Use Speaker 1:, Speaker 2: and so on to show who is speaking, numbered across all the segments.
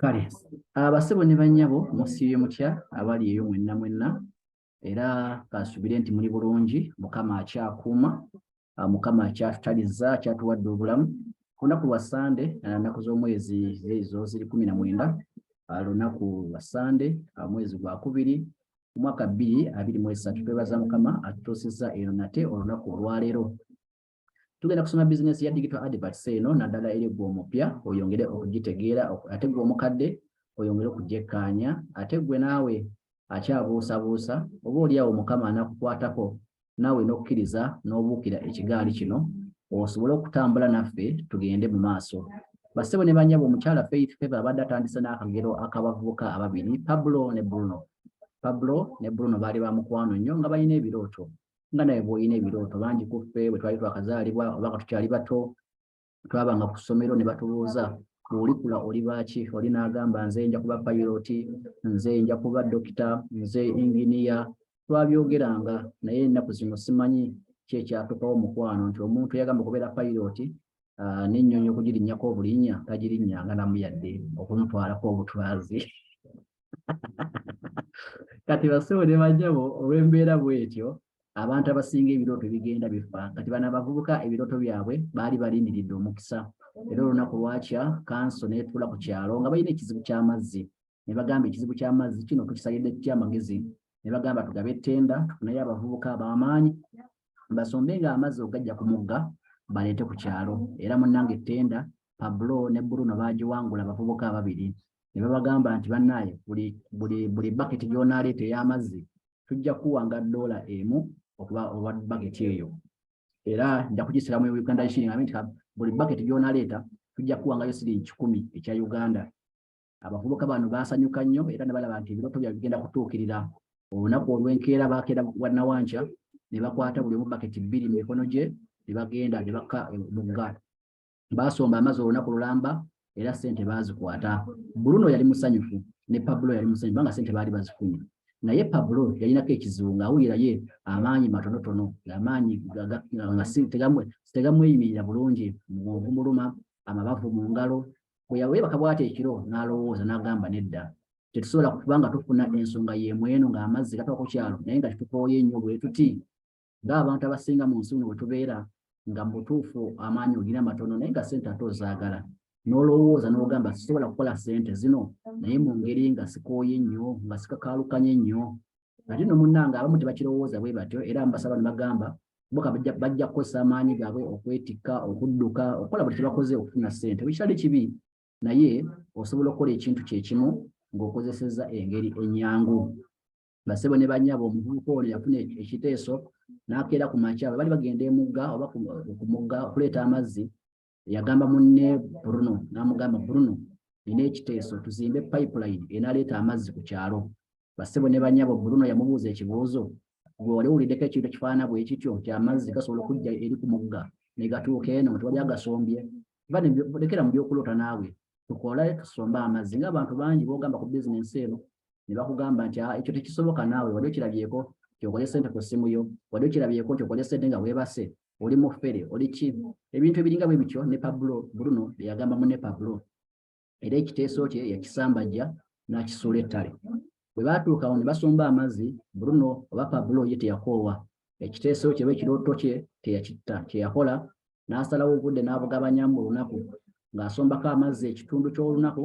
Speaker 1: kale abasebo ne bannyabo musiibye mutya abali eyo mwenna mwenna era kasubire nti muli bulungi mukama akyakuuma ah, mukama akyatutaliza akyatuwadde obulamu ku lunaku lwa sande ah, nnaku z'omwezi ezo ziri kumi na mwenda ah, lunaku lwa sande omwezi gwa kubiri omwaka bbiri abiri mu esatu twebaza mukama atutuusizza eno nate olunaku olwaleero Tugenda kusoma bizinensi ya digital adverts eno naddala eri gwe omupya oyongere okugitegeera ate gwe omukadde oyongere okugyekkaanya ate gwe naawe akyabuusabuusa oba olyawo mukama anakukwatako naawe n'okkiriza n'obuukira ekigaali kino osobole okutambula naffe tugende mu maaso bassebo ne banyabo omukyala faith feva abadde atandise n'akagero akabavubuka ababiri pablo ne bruno pablo ne bruno baali ba mukwano nnyo nga balina ebirooto nga naye bw'olina ebirooto bangi ku ffe bwe twali twakazaalibwa oba nga tukyali bato twabanga ku ssomero ne batubuuza bw'olikula oli baaki oli n'agamba nze nja kuba payiroti nze nja kuba dokita nze inginiya twabyogeranga naye ennaku zino simanyi ki ekyatukawo mukwano nti omuntu yagamba okubeera payiroti ah, n'ennyonyi okugirinnyako obulinnya tagirinnyanga namu yadde okumutwalako obutwazi kati basebo ne bajabo olw'embeera bwetyo abantu abasinga ebirooto bigenda bifa kati bano abavubuka ebirooto byabwe baali balindiridde omukisa era olunaku lwakya kanso netuula ku kyalo nga balina ekizibu ky'amazzi ne bagamba ekizibu ky'amazzi kino tukisalidde ki amagezi ne bagamba tugabe ettenda tufuneyo abavubuka ab'amaanyi basombe nga amazzi ogajja ku mugga baleete ku kyalo era munnanga ettenda pablo ne bruno baagiwangula abavubuka ababiri ne babagamba nti bannaaye buli buli buli baketi gy'onaaleeta ey'amazzi tujja kuwanga doola emu okuba olwa baketi eyo era nja kugisira mu uganda shiling abe nti buli baketi gy'onaaleeta tujja kuwangayo siringi kikumi ekya uganda abavubuka bano baasanyuka nnyo era ne balaba nti ebirooto byabwe bigenda kutuukirira olunaku olw'enkeera baakeera wannawankya ne bakwata buli omu baketi bbiri mu mikono gye ne bagenda ne bakka omugga baasomba amazzi olunaku lulamba era ssente baazikwata bruno yali musanyufu ne pablo yali musanyufu kubanga ssente baali bazifunye naye pablo yalinako ekizibu ng'awulira ye amaanyi matonotono amaanyi tegamweyimirira bulungi mubwonvu muluma amabavu mu ngalo bwe yaweebaka bwati ekiro n'alowooza n'agamba nedda tetusobola kuba nga tufuna ensonga y'emu eno ng'amazzi gatuka ku kyalo naye nga kitukooye nnyo bwe tuti ng'abantu abasinga mu nsi muno bwe tubeera nga mu butuufu amaanyi olina matono naye nga ssente ate ozaagala n'olowooza n'ogamba sisobola kukola ssente zino naye mu ngeri nga sikooye nnyo nga sikakaalukanye nnyo ate no munnange abamu tebakirowooza bwe batyo era mbasaba ne bagamba boka bajja kukozesa amaanyi gaabwe okwetikka okudduka okukola buli kyebakoze okufuna ssente bwekikyali kibi naye osobola okukola ekintu kyekimu ng'okozesezza engeri enyangu basebo ne banyabo omuvubuka ono yafuna ekiteeso n'akeera ku makya bwe bali bagenda emugga oba ku mugga okuleeta amazzi yagamba munne bruno n'amugamba bruno nina ekiteeso tuzimbe pipeline enaleeta amazzi ku kyalo basebo ne banyabo bruno yamubuuza ekibuuzo gwe wali owuliddeko ekintu ekifaanana bwe kityo nti amazzi gasobola okujja eri ku mugga ne gatuuka eno nti wali agasombye lekera mu byokuloota naawe tukole tusombe amazzi ngaabantu bangi bogamba ku bizinensi eno ne bakugamba nti ah, ekyo tekisoboka naawe wali okirabyeko kyokole sente ku ssimu yo wali okirabyeko kyokole sente nga weebase oli mufere oli ki ebintu ebiringa bwe bityo ne pablo bruno byeyagamba mu ne pablo era ekiteeso kye yakisambajja n'akisuula ettale bwe baatuukawo ne basomba amazzi bruno oba pablo ye teyakoowa ekiteeso kye oba ekirooto kye teyakitta kye yakola n'asalawo obudde n'abugabanya mu lunaku ng'asombako amazzi ekitundu ky'olunaku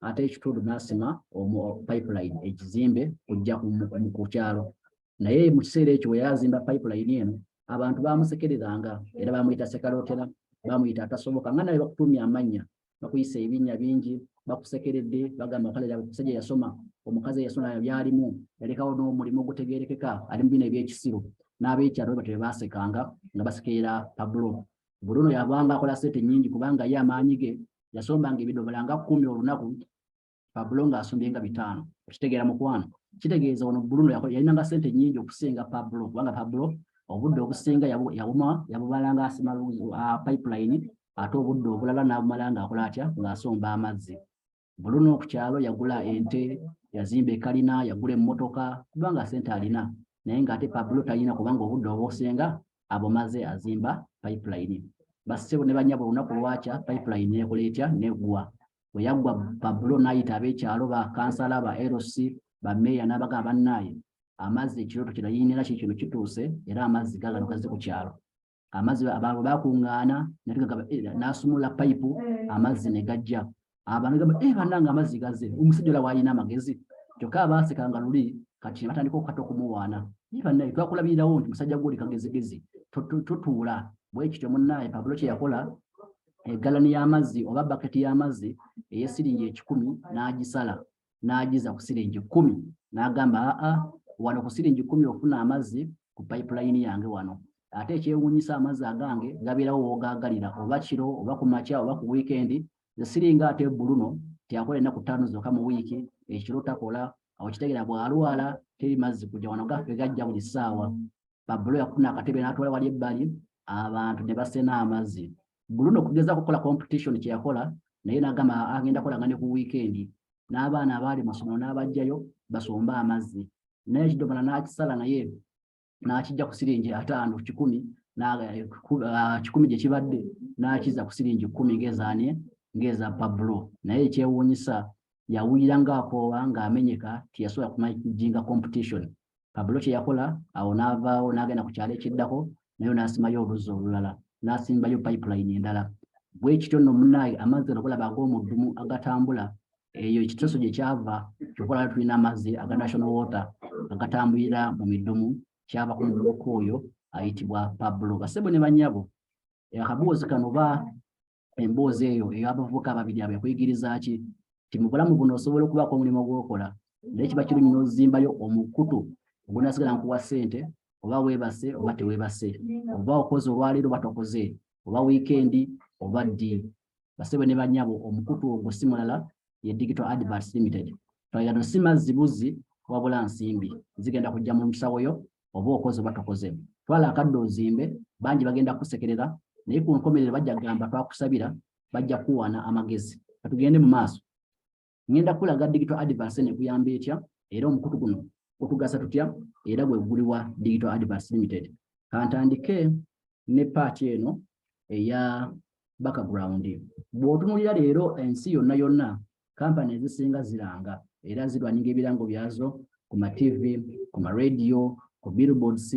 Speaker 1: ate ekitundu n'asima omu pipeline ekizimbe kujja ku kyalo naye mu kiseera ekyo we yazimba pipeline eno abantu baamusekereranga era baamuyita sekalootera baamuyita atasoboka nga naye bakutuumya amannya bakuyisa ebinnya bingi bakusekeredde bagamba kale omusajja yasoma omukazi eyasoma byalimu yalekawo n'omulimu ogutegerekeka ali mu bino ebyekisiru n'abekyalo batyo bebasekanga nga basekerera pabulo buluno yabanga akola sente nyingi kubanga ye amaanyi ge yasombanga ebidomola nga kumi olunaku Pablo ng'asombye nga bitaano okitegeera mukwano kitegeeza ono Bruno yalinanga ssente nnyingi okusinga Pablo kubanga Pablo obudde obusinga yabuma yabumalanga asima ah, pipeline ate obudde obulala n'abumala ng'akola atya ng'asomba amazzi Bruno ku kyalo yagula ente yazimba ekalina yagula emmotoka kubanga ssente alina naye ng'ate Pablo talina kubanga obudde obusinga abumaze azimba pipeline bassebo ne banyabo olunaku lwakya pipeline nekola etya neggwa bwe yaggwa pablo n'ayita ab'ekyalo ba kansala ba lc bameeya n'abaga abannaaye amazzi ekirooto kirayiinira ki kino kituuse era amazzi gagano gazze ku kyalo amazzi abantu bakuŋŋaana eh, n'asumula payipu amazzi ne gajja abantu gamba e eh, bannanga amazzi gazze omusajja ola waalina amagezi kyokka abaaseka nga luli kati ne batandika okukata okumuwaana naye eh, bannaye twakulabirirawo nti musajja gwoli kagezigezi totuula bwe kityo munnaaye pablo kye yakola egaloni y'amazzi oba baketi y'amazzi ey'essiringi ekikumi n'agisala n'agiza ku siringi kkumi n'agamba aa wano ku siringi kkumi ofuna amazzi ku payipulayini yange wano ate ekyewuunyisa amazzi agange gabeerawo wogaagalira oba kiro oba ku makya oba ku wiikendi zesiringa ate buluno teyakola ennaku ttaano zokka mu wiiki ekiro takola awo kitegera bw'alwala teri mazzi kujja wano gaffe gajja buli ssaawa babulo yakufuna akatebe n'atwala wali ebbali abantu ne basena amazzi buluno okugeza kukola competition kye yakola naye n'agamba agenda kola nga ne ku wiikendi n'abaana abaali masomero n'abajjayo basombe amazzi naye ekidomola n'akisala naye n'akijja ku siringi ataano kikumi eh, ah, kikumi gye kibadde n'akiza ku siringi kkumi ng'ezaani ng'eza pablo naye ekyewuunyisa yawulira ng'akoowa ng'amenyeka tiyasobola kumajinga competition Pablo kye yakola awo n'avaawo n'agenda ku kyalo ekiddako nayo n'asimayo oluzzi olulala n'asimbayo pipeline endala bwe kityo nno munaaye amazzi agakolaba ag'omuddumu agatambula eyo ekiteeso gye kyava kyokola tulina amazzi aga national water agatambulira mu midumu kyava ku mubuka oyo ayitibwa pablo basebo ne banyabo akaboozi kano ba emboozi eyo ey'abavubuka ababiri abo ekuyigiriza ki nti mu bulamu buno osobola okubaako omulimu gw'okola naye kiba kirungi n'ozimbayo omukutu ogunasigala nkuwa ssente oba weebase oba teweebase oba okoze olwaleero oba tokoze oba wiikendi oba ddi basebe ne banyabo omukutu ogwo si mulala ye digital adverts limited twalira no si mazzi buzzi wabula nsimbi zigenda kujja mu nsawo yo oba okoze oba tokoze twala akadde ozimbe bangi bagenda kusekerera naye ku nkomerero bajja kugamba twakusabira bajja kuwana amagezi katugende mu maaso ngenda kulaga digital advance nekuyamba etya era omukutu guno gutugasa tutya era gwe guliwa digital advance limited kantandike ne paati eno eya background bw'otunulira leero ensi yonna yonna kampani ezisinga ziranga era zirwanyinga ebirango byazo ku mativi ku maradio ku billboards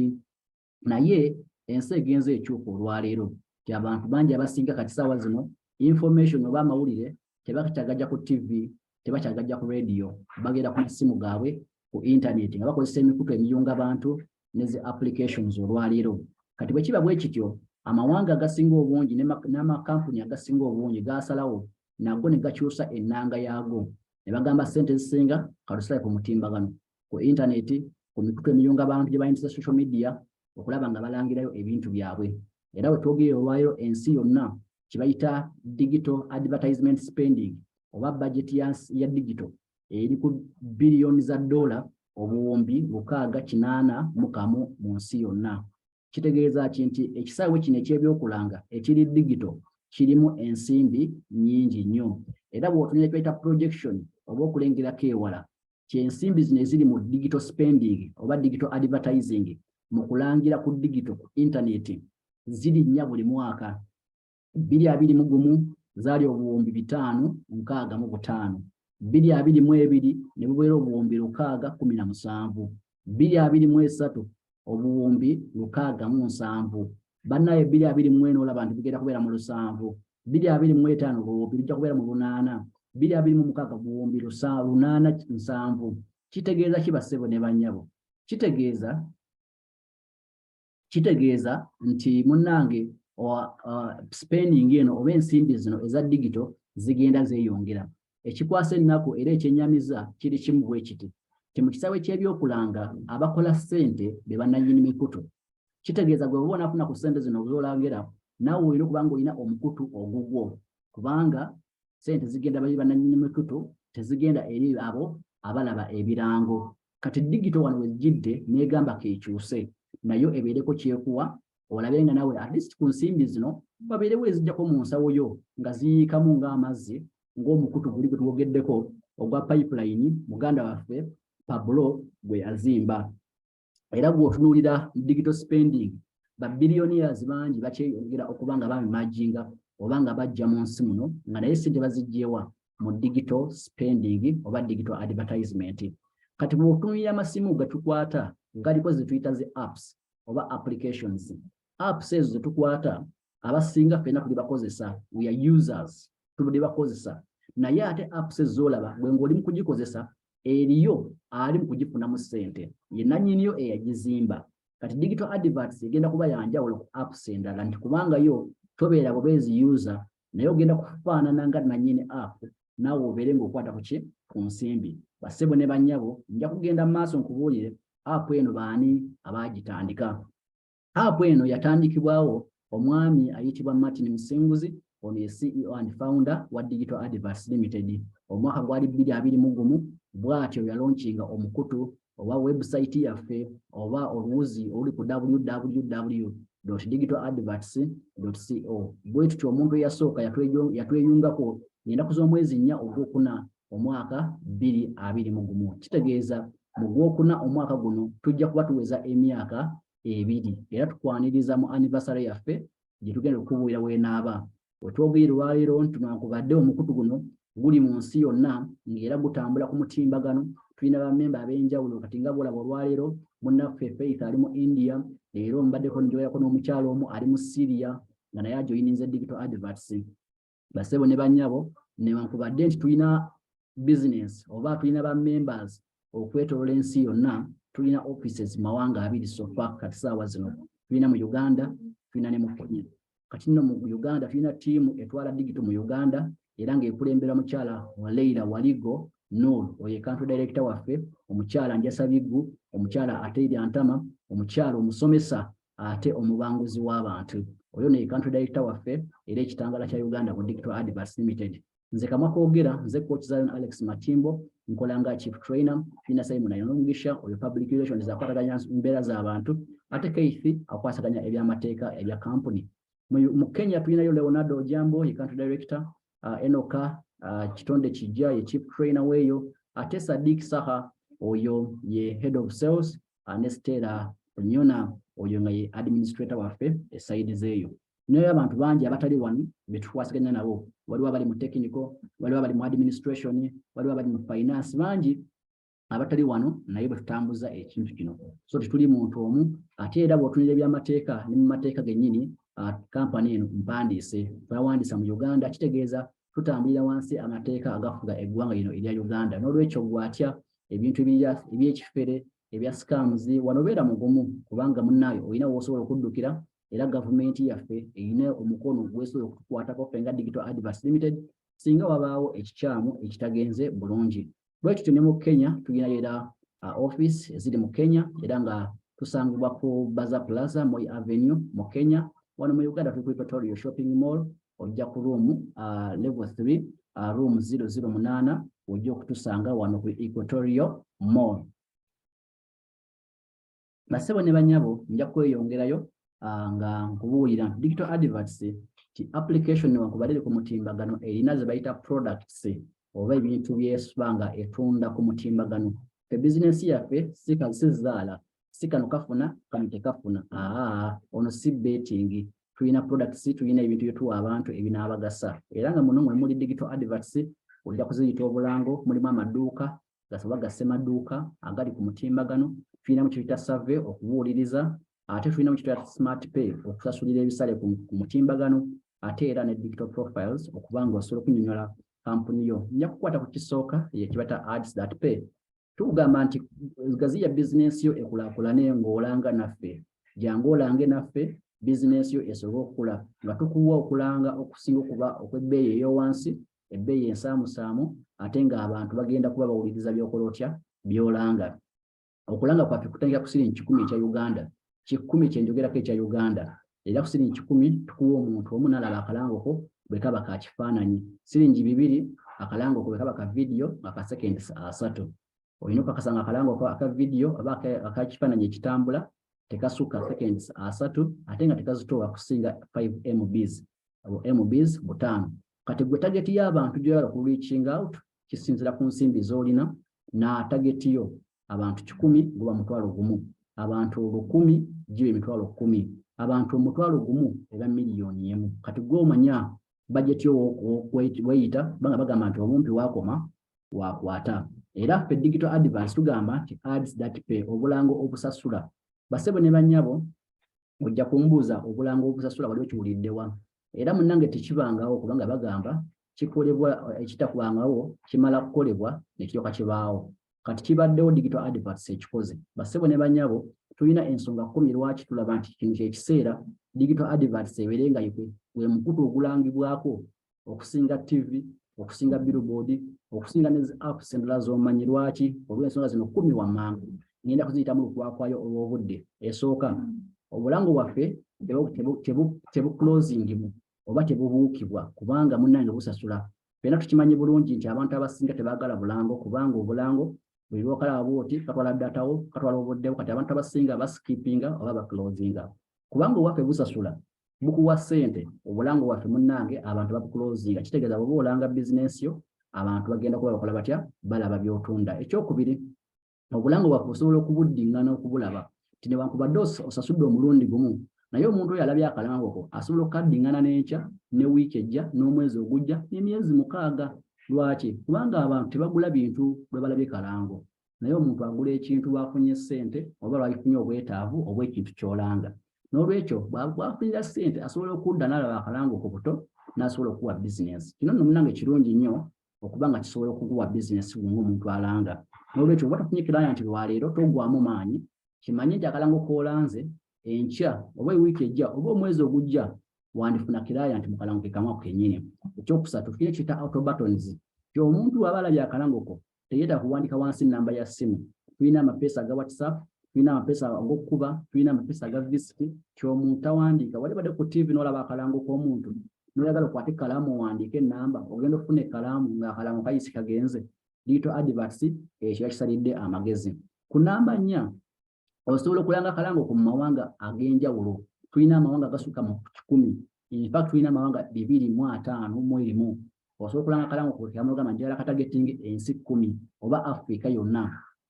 Speaker 1: naye ensi egenze ekyuka olwaleero ti abantu bangi abasinga kati saawa zino information oba amawulire tebakyagajja ku tivi tebakyagajja ku radio bagenda ku masimu gaabwe ku intaneti nga bakozesa emikutu emiyunga bantu ne zi applications olwaleero kati bwe kiba bwe kityo amawanga agasinga obungi n'amakampuni agasinga obungi gaasalawo nago ne gakyusa ennanga yaago ne bagamba ssente ezisinga kalusale ku mutimbagano ku intaneti ku mikutu emiyunga bantu gye bayingiza social media okulaba nga balangirayo ebintu byabwe era we twogerera olwaleero ensi yonna kye bayita digital advertisement spending oba bajeti ya digital eri ku biliyoni za ddoola obuwumbi lukaaga kinaana mu kamu mu nsi yonna. Kitegeeza ki nti ekisaawe kino eky'ebyokulanga ekiri digito kirimu ensimbi nnyingi nnyo era bw'otunula ekyayita projection oba okulengerako ewala kyensimbi zino eziri mu digital spending oba digital advertising mu kulangira ku digito ku intaneti zirinnya buli mwaka bbiri abiri mu gumu zaali obuwumbi bitaano nkaaga mu butaano bbiri abiri mu ebiri ne bubeera obuwumbi lukaaga kumi na musanvu bbiri abiri mu esatu obuwumbi lukaaga mu nsanvu bannaye bbiri abiri mu ena olaba nti bigenda kubeera mu lusanvu bbiri abiri mu etaano buwumbi bijja kubeera mu lunaana bbiri abiri mu mukaaga buwumbi lunaana nsanvu kitegeeza ki bassebo ne bannyabo kitegeeza kitegeeza nti munnange spending eno oba ensimbi zino eza digito zigenda zeeyongera ekikwasa ennaku era ekyenyamiza kiri kimu bwe kiti nti mu kisaawe ky'ebyokulanga abakola ssente be bannannyini mikutu kitegeeza gwe oba onafuna ku ssente zino zolagera naawe olina okubanga olina omukutu ogugwo kubanga ssente zigenda bali bannannyini mikutu tezigenda eri abo abalaba ebirango kati digito wano wejjidde negamba kekyuse nayo ebeereko kyekuwa olabe nga nawe at least ku nsimbi zino babeerewo ezijjako mu nsawo yo nga ziyiikamu ng'amazzi ng'omukutu guli gwe twogeddeko ogwa pipeline muganda waffe pablo gwe yazimba era gwotunuulira digital spending babilioniers bangi bakyeyongera okuba nga bamimajinga oba nga bajja mu nsi muno nga naye sente bazijjewa mu digital spending oba digital advertisement kati mu otunulira amasimu getukwata galiko zetuyita zi apps oba applications apps ezo zetukwata abasinga fena tuli bakozesa we are users tubadde bakozesa naye ate apps ezolaba gwe ng'oli mu kugikozesa eriyo ali mu kugifunamu ssente ye nanyiniyo eyagizimba kati digital adverts egenda kuba yanjawulo ku apps endala nti kubanga yo tobeera bubeezi user naye ogenda kufaanana nga nannyini apu naawe obeere ng'okwata ku ki ku nsimbi basebo ne bannyabo nja kugenda mu maaso nkubuulire apu eno baani abaagitandika apu eno yatandikibwawo omwami ayitibwa martin musinguzi ono ye ceo and founder wa digital advers limited omwaka gwali bbiri abiri mu gumu bw'atyo yalonkinga omukutu oba webusayiti yaffe oba oluwuzi oluli ku www digital adverts co bwe tutyo omuntu eyasooka yatweyungako ennaku z'omwezi nnya ogwokuna omwaka bbiri abiri mu gumu kitegeeza mu gwokuna omwaka guno tujja kuba tuweza emyaka ebiri era tukwaniriza mu anniversary yaffe gye tugenda okubuulira weenaaba Wetwogeye lwaleero nti newankubadde omukutu guno guli mu nsi yonna ng'era gutambula ku mutimbagano, tulina bammemba ab'enjawulo kati nga bwolaba olwaleero munnaffe Faith ali mu India, leero mbaddeko njogerako n'omukyalo omu ali mu Syria nga naye ajoyininze digital adverts. Basebo ne bannyabo newankubadde nti tulina business oba tulina ba members okwetolola ensi yonna tulina offices mawanga abiri sofa kati saawa zino tulina mu uganda tulina ne mu kenya kati nno mu uganda tulina tiimu etwala digito mu uganda era ng'ekulembera mukyala waleira waligo nol oyo ekantu direkita waffe omukyala njasabiggu omukyala ate eryantama omukyala omusomesa ate omubanguzi w'abantu oyo nekantu direkita waffe era ekitangala kya uganda mu digital advance limited nze kamwa kogera nze coach zion alex matimbo nkola nga chief trainer fina simon ayongisha oyo public relations akwataganya mbeera z'abantu ate keithi akwasaganya ebyamateeka ebya kampuni mu kenya tulinayo leonardo ojambo ye country director uh, enoka uh, kitonde kijja ye chief trainer weeyo ate sadik saha oyo ye head of sales uh, ne stela onyona oyo nga ye administrator waffe esaidi zeeyo naye abantu bangi abatali wano betukwasaganya nabo waliwo abali mu technical waliwo abali mu administration waliwo abali mu finance bangi abatali wano naye bwetutambuza ekintu kino so tetuli muntu omu ate era bwotunira ebyamateeka ne mu mateeka gennyini kampani eno mpandiise bawandiisa mu uganda kitegeeza tutambulira wansi amateeka agafuga eggwanga lino erya uganda n'olwekyo gwatya ebintu ebyekifere ebya scams wanobeera mugumu kubanga munnaayo olina woosobola okuddukira era gavumenti yaffe erina omukono gwesobola okutukwatako ffe nga digital advers limited singa wabaawo ekikyamu ekitagenze bulungi bwe tutyo ne mu kenya tulina era uh, office eziri mu kenya era nga tusangibwa ku baza plaza moy avenue mu kenya wano mu uganda tuli ku equatorio shopping mall ojja ku room uh, level 3 uh, room 008 ojja okutusanga wano ku equatorio mall basebo ne banyabo nja kweyongerayo ah, nga nkubuulira nti digital adverts ti application newakubalire ku mutimbagano erina ze bayita products oba ebintu byesuba nga etunda ku mutimbagano fe bizinesi yaffe sizaala si kano kafuna kano tekafuna aa ono si betting tulina products tulina ebintu byetuwa abantu ebinaabagasa era nga muno mwe muli digital adverts ojja kuziyita obulango mulimu amaduuka gasoba ga ssemaduuka agali ku mutimbagano tulinamu kyetuyita save okubuuliriza ate tulinamu kyetuyita smart pay okusasulira ebisale ku mutimbagano ate era ne digital profiles okuba nga osobola okunyonyola kampuni yo nja kukwata ku kisooka yekibata ads that pay tukugamba nti gaziya bizinensi yo ekulakulane ng'olanga naffe jangu olange naffe bizinensi yo esobole okukula nga tukuwa okulanga okusinga okuba okw'ebbeeyi ey'owansi ebbeeyi ensaamusaamu ate ng'abantu bagenda kuba bawuliriza byokola otya byolanga okulanga kwaffe kutandika ku siringi kikumi ekya uganda kikumi kyenjogerako ekya uganda era ku siringi kikumi tukuwa omuntu omu nalaba akalangoko bwe kaba ka kifaananyi siringi bibiri akalangoko bwe kaba ka vidiyo nga ka sekendi asatu olina okakasa nga akalango aka vidiyo oba akakifaananyi ekitambula tekasukka seconds asatu ate nga tekazitoowa kusinga 5 mbs abo mbs butaano kati gwe tageti y'abantu gyoyala ku reaching out kisinzira ku nsimbi z'olina na tageti yo abantu kikumi guba mutwalo gumu abantu olukumi giba emitwalo kumi abantu omutwalo gumu eba miliyoni emu kati gwe omanya bajeti yo weyita banga bagamba nti omumpi wakoma wakwata era ffe digital advance tugamba nti ads that pay obulango obusasula basebo ne banyabo ojja kumbuuza obulango obusasula wali okiwuliddewa era munange tekibangawo kubanga bagamba kikolebwa ekitakubangawo kimala kukolebwa nekiryoka kibaawo kati kibaddewo digital advance ekikoze basebo ne banyabo tulina ensonga kumi lwaki tulaba nti kino kyekiseera digital advance ebeere nga yekwe gwe mukutu ogulangibwako okusinga TV okusinga billboard okusinga ne apps endala z'omanyi lwaki olw'ensonga zino kumi wamangu ngenda kuziyitamu lukwakwayo olw'obudde esooka obulamu bwaffe tebukulozingimu oba tebubuukibwa kubanga munnange busasula fena tukimanyi bulungi nti abantu abasinga tebaagala bulango kubanga obulango buli lwokalaba bwoti katwala datawo katwala obuddewo kati abantu abasinga basikipinga oba bakulozinga kubanga owaffe busasula mukuwa sente obulango waffe munnange abantu bakukulozinga kitegeeza bwoba olanga bizinensi yo abantu bagenda kuba bakola batya balaba byotunda ekyokubiri obulango bwaffe osobola okubuddingana okubulaba ti newankubadde osasudde omulundi gumu naye omuntu oyo alabye akalangoko asobola okukaddingana n'enkya ne wiiki ejja n'omwezi ogujja n'emyezi mukaaga lwaki kubanga abantu tebagula bintu bwe balabye kalango naye omuntu agula ekintu lwafunye ssente oba lwakifunye obwetaavu obwekintu kyolanga n'olwekyo bwafunira ssente asobola okudda n'alaba akalango ku buto n'asobola okukuwa bizinensi kino nno munange kirungi nnyo okuba nga kisobola okukuwa bizinensi bunga omuntu alanga n'olwekyo oba tofunye kiraya nti lwaleero togwamu maanyi kimanye nti akalango koolanze enkya oba ewiiki ejja oba omwezi ogujja wandifuna kiraya nti mukalango kekamu ako kenyini ekyokusatu tufunye kiyita autobatons ti omuntu waba alabye akalango ko teyeta kuwandika wansi namba ya simu tulina amapeesa aga whatsapp tulina amapeesa agokukuba tulina amapeesa aga visit kyomuntu tawandiika wali badde ku tv nolaba akalango komuntu noyagala okwate kalaamu owandiike enamba ogenda okufuna ekalaamu nga akalamu kayisi kagenze diito advats ekyo yakisalidde amagezi ku namba nnya osobola okulanga akalango ku mumawanga ag'enjawulo tulina amawanga agasukka mu kikumi infact tulina amawanga bibiri mu ataano mu erimu osobola okulanga akalango kukamugamba nti yala katagetinga ensi kkumi oba afrika yonna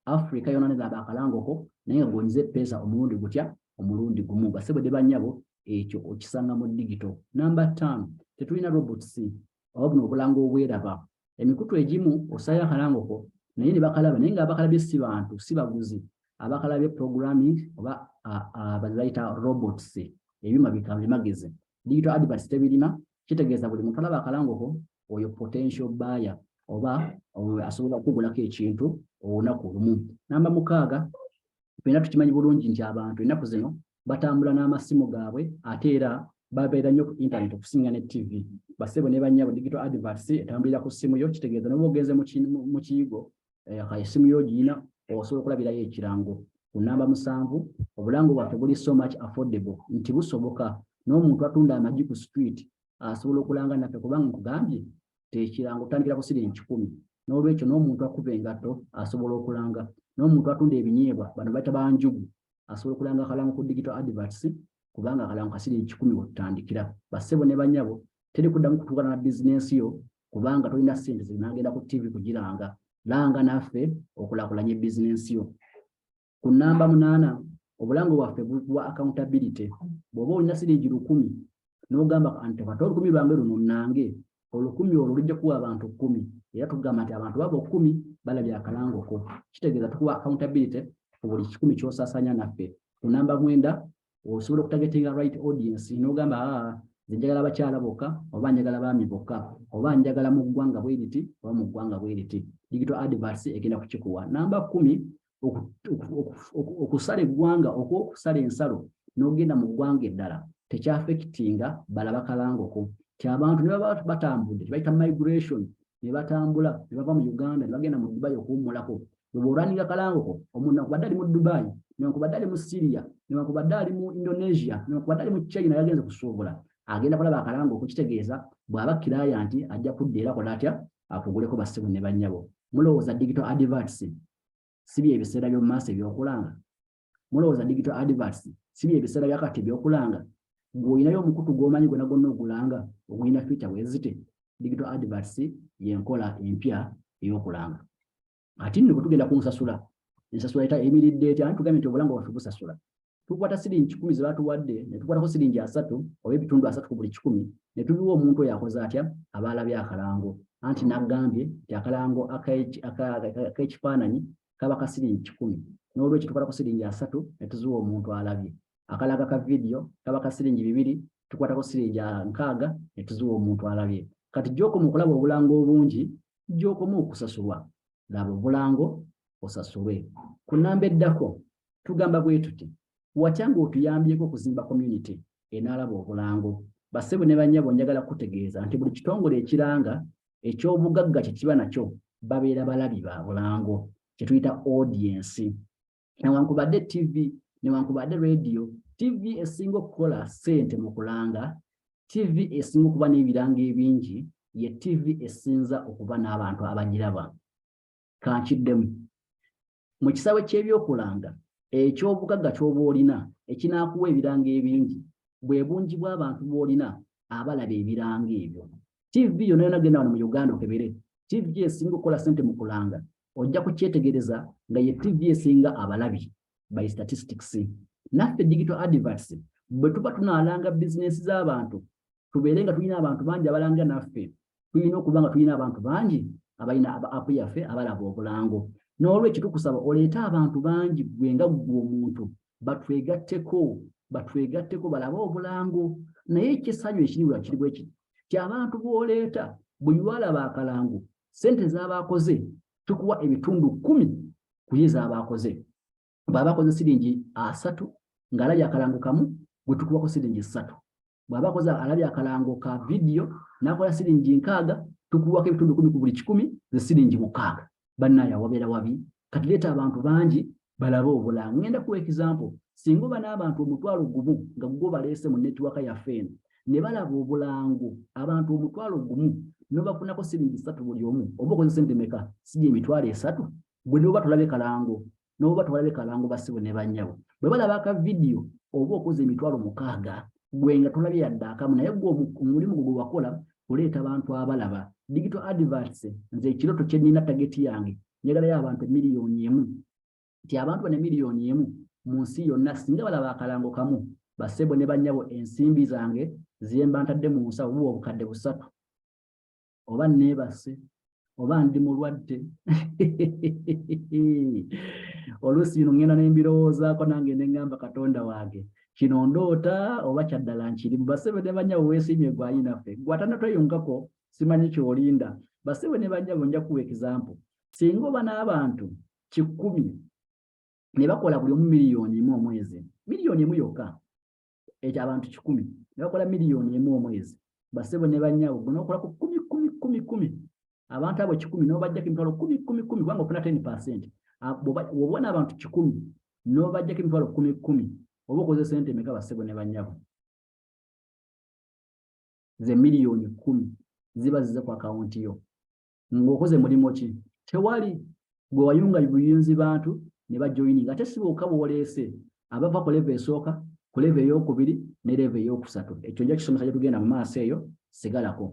Speaker 1: afrika yonna nelaba akalangoko naye nga gonyiza epeesa omulundi gutya omulundi gumu basebo de banyabo ekyo okisanga mu digito namba ttaano tetulina robots oba buno obulanga obweraba emikutu egimu osaayo akalangoko naye ne bakalaba naye nga abakalabye si bantu si baguzi abakalabye programming oba bazibayita robots ebyuma bikamagezi digital adverts tebirina kitegeeza buli muntu alaba akalangoko oyo potential buyer oba asobola okugulako ekintu olunaku olumu namba mukaaga fena tukimanyi bulungi nti abantu enaku zino batambula n'amasimu gaabwe ate era babeera nnyo ku internet okusinga ne tv basebo ne bannyabo digital adverts etambulira ku ssimu yo kitegeeza noba ogenze mu kiyigo eh, esimu yo ogiyina osobola okulabirayo ekirango ku namba musanvu obulango bwaffe buli so much affordable nti busoboka n'omuntu atunda amagi ku street asobola okulanga naffe kubanga nkugambye tekirango otandikira ku siringi kikumi n'olwekyo n'omuntu akuba engatto asobola okulanga n'omuntu atunda ebinyeebwa bano baita banjugu asobola okulanga akalango ku digital adverts kubanga akalango kasiri kikumi wetutandikira bassebo ne banyabo teri kuddamu kutuukana na bizinensi yo kubanga tolina ssente zinagenda ku ttivi kugiranga langa naffe okulakulanya ebizinensi yo ku nnamba munaana obulango bwaffe bwa accountability bw'oba olina siringi lukumi n'ogamba nti kata olukumi lwange luno nange olukumi olwo lujja kuwa abantu kkumi era tugamba nti abantu baba okkumi balabye akalangoko kitegeeza tukuwa accountability ku buli kikumi kyosasanya naffe ku namba mwenda osobola okutagetinga right audience nogamba aa ah, njagala abakyala bokka oba njagala baami bokka oba njagala mu ggwanga bweriti oba mu ggwanga bweriti digital advers egenda kukikuwa namba kumi okusala eggwanga oku okusala ensalo n'ogenda mu ggwanga eddala tekyafekitinga balaba kalangoko ti abantu ne baba batambudde tebayita migration ne batambula ne bava mu uganda ne bagenda mu dubai okuwummulako bwebworanira kalangoko omuntu nakubadde ali mu dubai newankubadde ali mu syria newankubadde ali mu indonesia newankubadde ali mu china yagenze kusuubula agenda kulaba akalango okukitegeeza bw'aba kiraya nti ajja kudda era kola atya akuguleko basibu ne bannyabo mulowooza digital adverts si bye biseera by'omu maaso ebyokulanga mulowooza digital adverts si bye biseera bya kati ebyokulanga ng'olinayo omukutu gw'omanyi gwona gwonna ogulanga ogulina fica wezite digital adverts yenkola empya ey'okulanga ati nno bwe tugenda ku nsasula ensasula eta emiridde etya ani tugambe nti obulanga bwaffe busasula tukwata siringi kikumi ze batuwadde ne tukwatako siringi asatu oba ebitundu asatu ku buli kikumi ne tubiwa omuntu oyo akoze atya abaalabye akalango anti n'agambye nti akalango ak'ekifaananyi kaba ka siringi kikumi n'olwekyo tukwata ku siringi asatu ne tuziwa omuntu alabye akalaga ka vidiyo kaba ka siringi bibiri tukwatako siringi nkaaga ne tuziwa omuntu alabye kati gy'okoma okulaba obulango obungi gy'okoma okusasulwa laba obulango osasulwe ku nnamba eddako tugamba bwe tuti watya ng'otuyambyeko okuzimba community enaalaba obulango bassebo ne bannyabo njagala kutegeeza nti buli kitongole ekiranga eky'obugagga kye kiba nakyo babeera balabi ba bulango kye tuyita audiensi newankubadde tv newankubadde radio tv esinga okukola ssente mu kulanga tv esinga okuba n'ebiranga ebingi ye tv esinza okuba n'abantu abagiraba kankiddemu Mu kisaawe ky'ebyokulanga, eky'obugagga ky'oba olina ekinaakuwa ebiranga ebingi bwe bungi bw'abantu b'olina abalaba ebiranga ebyo. Ttivi yonna yonna genda wano mu Uganda okebere ttivi esinga okukola ssente mu kulanga, ojja kukyetegereza nga ye ttivi esinga abalabi by statistics. Naffe Digital Adverts bwe tuba tunaalanga bizinensi z'abantu tubeere nga tulina abantu bangi abalanga naffe tulina okuba nga tulina abantu bangi abalina app yaffe abalaba obulango n'olwekyo tukusaba oleete abantu bangi gwe nga ggwe omuntu batwegatteko batwegatteko balabe obulango naye ekisanyu ekiri wa kiri bweki kyabantu bwoleeta buli lwalaba akalango sente zabaakoze tukuwa ebitundu kumi kuye zabaakoze baabakoze siringi asatu ng'alabye akalango kamu gwe tukuwako siringi ssatu bw'aba akoze alabye akalango ka vidiyo n'akola siringi nkaaga tukuwako ebitundu kumi ku buli kikumi ze siringi mukaaga bannaayo awabeera wabi kati leeta abantu bangi balabe obulamu ngenda kuwa ekizampo singa oba n'abantu omutwalo gumu nga gugwo baleese mu netiwaka yaffe eno ne balaba obulango abantu omutwalo gumu nobafunako siringi satu buli omu oba okozesa sente meka sigi emitwalo esatu gwe noba tulabe kalango nabo batwala be kalango bassebo ne bannyabo bwe balaba aka vidiyo oba okoze emitwalo mukaaga gwe nga tolabye yadde akamu naye gwe omulimu gwe gwe wakola oleeta abantu abalaba digital adverts nze ekiroto kye nnina tageti yange njagalayo abantu emiliyoni emu nti abantu bano emiliyoni emu mu nsi yonna singa balaba akalango kamu bassebo ne bannyabo ensimbi zange zemba ntadde mu nsawo buba obukadde busatu oba neebase oba ndi mulwadde oluusi bino ŋŋenda ne mbirowoozaako nange ne ŋŋamba katonda wange kino ndoota oba kyaddala nkiri mu basebe ne banyawo weesiimye gwayinaffe gwatana tweyungako simanyi kyolinda basebe ne banjabo nja kuwa ekizampo singa oba n'abantu kikkumi ne bakola buli omu miliyoni emu omwezi miliyoni emu yokka ekyo abantu kikumi ne bakola miliyoni emu omwezi basebo ne banyabo gwe nokola ku kumi kumi kumi kumi abantu abo kikumi nobajjako emitwalo kumi kumi kumi kubanga ofuna ten percent wobona abantu kikumi nobajjako emitwalo kumi kumi oba okoze sente emeka basebo ne banyabo ze miliyoni kumi ziba zize ku akawunti yo ng'okoze mulimu ki tewali gwe wayunga buyunzi bantu ne bajoyininga ate si bokka bwoleese abava ku leva esooka ku leva eyokubiri ne leva eyokusatu ekyo nja kisomesa gye tugenda mu maaso eyo sigalako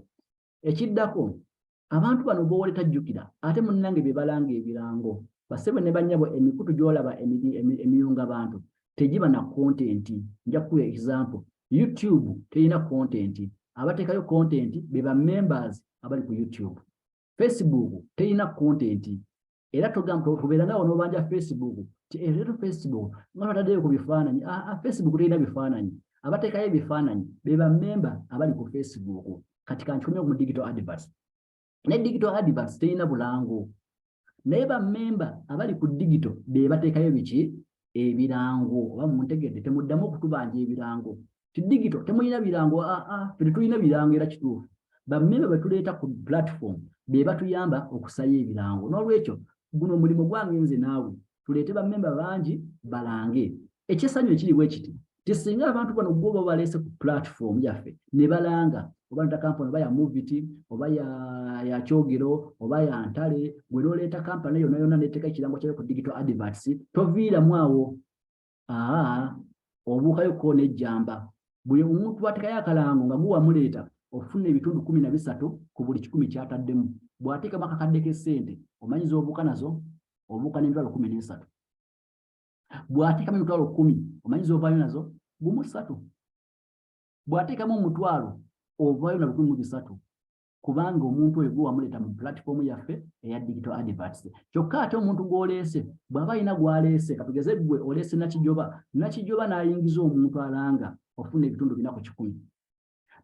Speaker 1: ekiddako abantu bano bowole tajjukira ate munnange bye balanga ebirango basebe ne bannyabo emikutu gy'olaba emiyunga bantu tegiba na kontenti nja kukuwa ekisample youtube terina content abateekayo content be ba members abali ku youtube facebook terina content era togamba okubeera nawe nobanja facebook ti ereto eh, facebook nga twataddeyo ku bifaananyi ah, ah, facebook terina bifaananyi abateekayo ebifaananyi be ba member abali ku facebook kati kankikomye mu digital advert ne digital advance terina bulango naye bammemba abali ku digito be bateekayo biki ebirango oba muntegedde temuddamu okutubanja ebirango ti digito temulina birango aa ah, ah, fe tetulina birango era kituufu bammemba be tuleeta ku platform be batuyamba okusayo ebirango n'olwekyo guno omulimu gwange nze naawe tuleete bamemba bangi balange ekyesanyu ekiri bwe kiti nti singa abantu bano gwo oba baleese ku platform yaffe ne balanga oba nta kampani oba ya moviti oba ya kyogero oba ya ntale gwe noleeta kampani yona yona neteeka ekirango kyayo ku digital adverts toviiramu awo aa obuukayo ko nejjamba buli omuntu bwatekayo akalango nga guwa muleeta ofuna ebitundu kumi na bisatu ku buli kikumi kyataddemu bw'ateekamu akakadde k'essente omanyiza obuuka nazo obuuka n'emitwalo kumi n'esatu bw'ateekamu emitwalo kumi omanyiza ovaayo nazo gumu ssatu bw'ateekamu omutwalo ovaayo na lukumi mu bisatu kubanga omuntu oyo gwe wamuleeta mu platform yaffe eya digital adverts kyokka ate omuntu gw'oleese bw'aba alina gw'aleese katugeze ggwe oleese nakijoba nakijoba n'ayingiza omuntu alanga ofuna ebitundu bina ku kikumi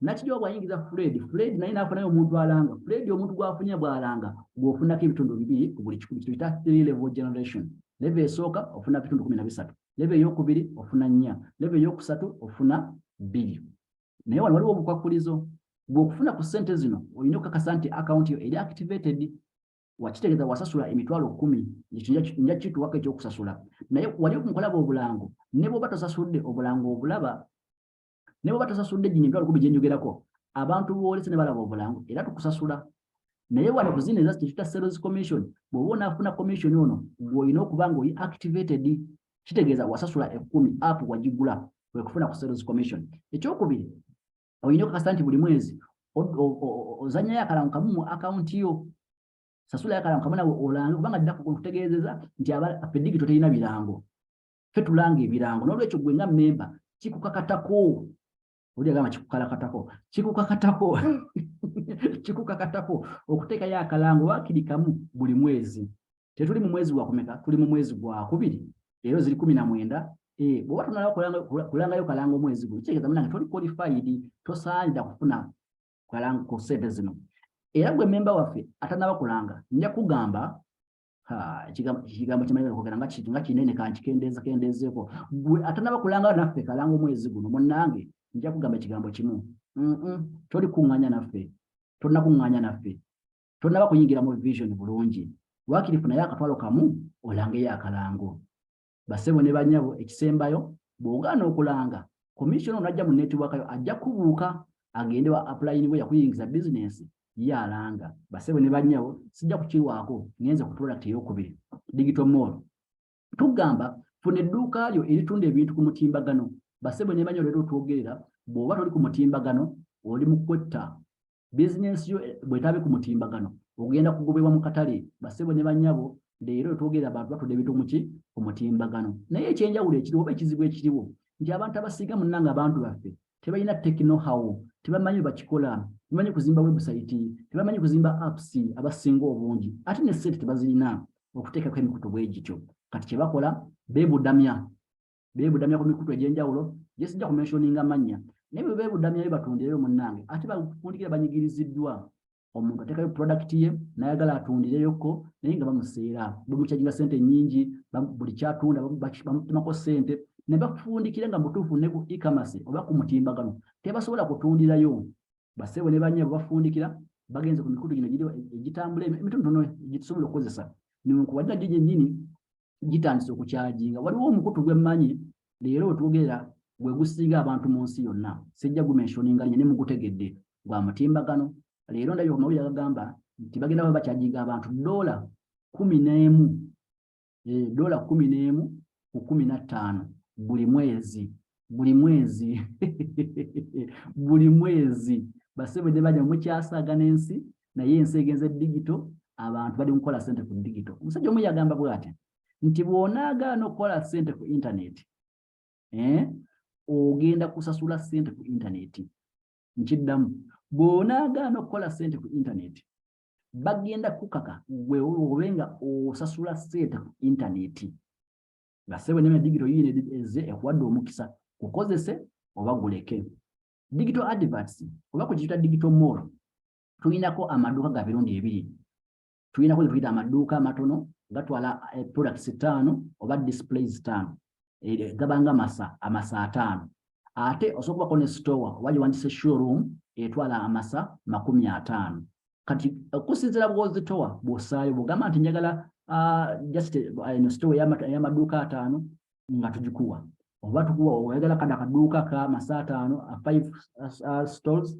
Speaker 1: nakijoba bw'ayingiza fred fred naye n'afunayo omuntu alanga fred omuntu gw'afunye bw'alanga gw'ofunako ebitundu bibiri ku buli kikumi kituyita three level generation leve esooka ofuna ebitundu kumi na bisatu leve ey'okubiri ofuna nnya leve ey'okusatu ofuna bbiri naye wano waliwo obukwakkulizo gwe okufuna ku ssente zino olina okukakasa nti akawunti yo eri activated wakitegeeza wasasula emitwalo kumi ekyo nja kituwako ekyokusasula naye wali mukulaba obulango ne bwoba tosasudde obulango obulaba ne bwoba tosasudde gino emitwalo kumi gyenjogerako abantu boolese ne balaba obulango era tukusasula naye wano ku zino eza kyetuta sales commission bwoba onafuna commission ono gweolina okuba nga oyi activated kitegeeza wasasula ekumi app wagigula wekufuna ku sales commission ekyokubiri olina okakasa nti buli mwezi ozanyayo akalango kamu mu akawunti yo sasulayo akalango kamu nawe olange kubanga ddakutegeezeza nti fedigi toterina birango fe tulanga ebirango nolwekyo gwe nga memba kikukakatako oli agamba kikukalakatako kikukakatako kikukakatako okuteekayo akalango wakiri kamu buli mwezi tetuli mu mwezi gwakumeka tuli mu mwezi gwakubiri leero ziri kumi na mwenda eh, bwoba tonala kulangayo kalanga omwezi guno kitegeeza munange toli qualified tosaanira kufuna kalango ku sente zino era gwe memba waffe atanaba kulanga nja kugamba ekigambo kimanyi kwogera nga kintu nga kinene kankikendeeza kendeezeeko gwe atanaba kulanga naffe kalanga omwezi guno munnange nja kugamba ekigambo kimu toli kuŋŋanya naffe tolina kuŋŋanya naffe tolina kuyingira mu vision bulungi wakiri funayo akatwalo kamu olangeyo akalango Basebo ne banyabo ekisembayo bw'ogaana okulanga commissioner onajja mu network yo ajja kubuuka agende wa apply niwe yakuyingiza business ye alanga basebo ne banyabo sijja kukiwaako ngenze ku product eyokubiri digital mall tugamba funa edduuka lyo eritunda ebintu ku mutimbagano basebo ne banyabo leero twogerera bw'oba toli ku mutimbagano oli mu kwetta bizinensi yo eh, bwetaabe ku mutimbagano ogenda kugobebwa mu katale basebo ne banyabo leero twogera abantu batudde ebintu muki ku mutimbagano naye ekyenjawulo ekiriwo oba ekizibu ekiriwo nti abantu abasiiga munna nga abantu baffe tebalina tekinohawo tebamanyi bakikola tebamanyi kuzimba webusayiti tebamanyi kuzimba apps abasinga obungi ate ne sente tebazirina okuteekako emikutu bwe gityo kati kye bakola beebudamya beebudamya ku mikutu egy'enjawulo gye sijja ku menshoninga amannya naye bwe beebudamyayo batundireyo munnange ate bakundikira banyigiriziddwa omuntu atekayo product ye nayagala atundileyoko naye nga bamuseera bamukyajira sente nyingi buli kyatunda bamutemako sente ne bafundikira nga mutuufu ne ku ikamase oba ku mutimbagano tebasobola kutundirayo basebo ne banyabo bafundikira bagenze ku mikutu gino egitambula emitonotono egitusobola okukozesa ninkubadira gye gyenyini gitandise okukyajinga waliwo omukutu gwemmanyi leero wetwogera gwe gusinga abantu mu nsi yonna sijja gumensioninga linye nemugutegedde gwa mutimbagano leero ndabye omawulire agagamba nti bagenda ba bakyajinga abantu dola kumi n'emu eh, dola kumi n'emu ku kumi na ttaano buli mwezi buli mwezi buli mwezi basebe ne bajja mukyasaaga n'ensi naye ensi egenze digito abantu bali mukola sente ku digito omusajja omu yagamba bwati nti bw'onaagaana okukola sente ku intaneti eh, ogenda kusasula sente ku intaneti nkiddamu bw'onaagaana okukola sente ku intaneti bagenda kukaka gwe obe nga osasula sente ku intaneti nga ssebo nyama digito yiino ezze ekuwadde omukisa kukozese oba guleke digito adverts oba ku kiyita digito mall tulinako amaduuka ga birundi ebiri tulinako ge tuyita amaduuka amatono gatwala eh, products ttaano oba displays ttaano eh, gabanga masa amasa ataano ate osobola okubako ne store oba gyewandise showroom etwala amasa makumi ataano kati okusinzira bwozitowa bwosaayo bwogamba nti njagala ah, just eno eh, sitowa eyamaduuka ataano nga tugikuwa oba tukuwa oyagala kada akaduuka ka masa ataano a five ah, stores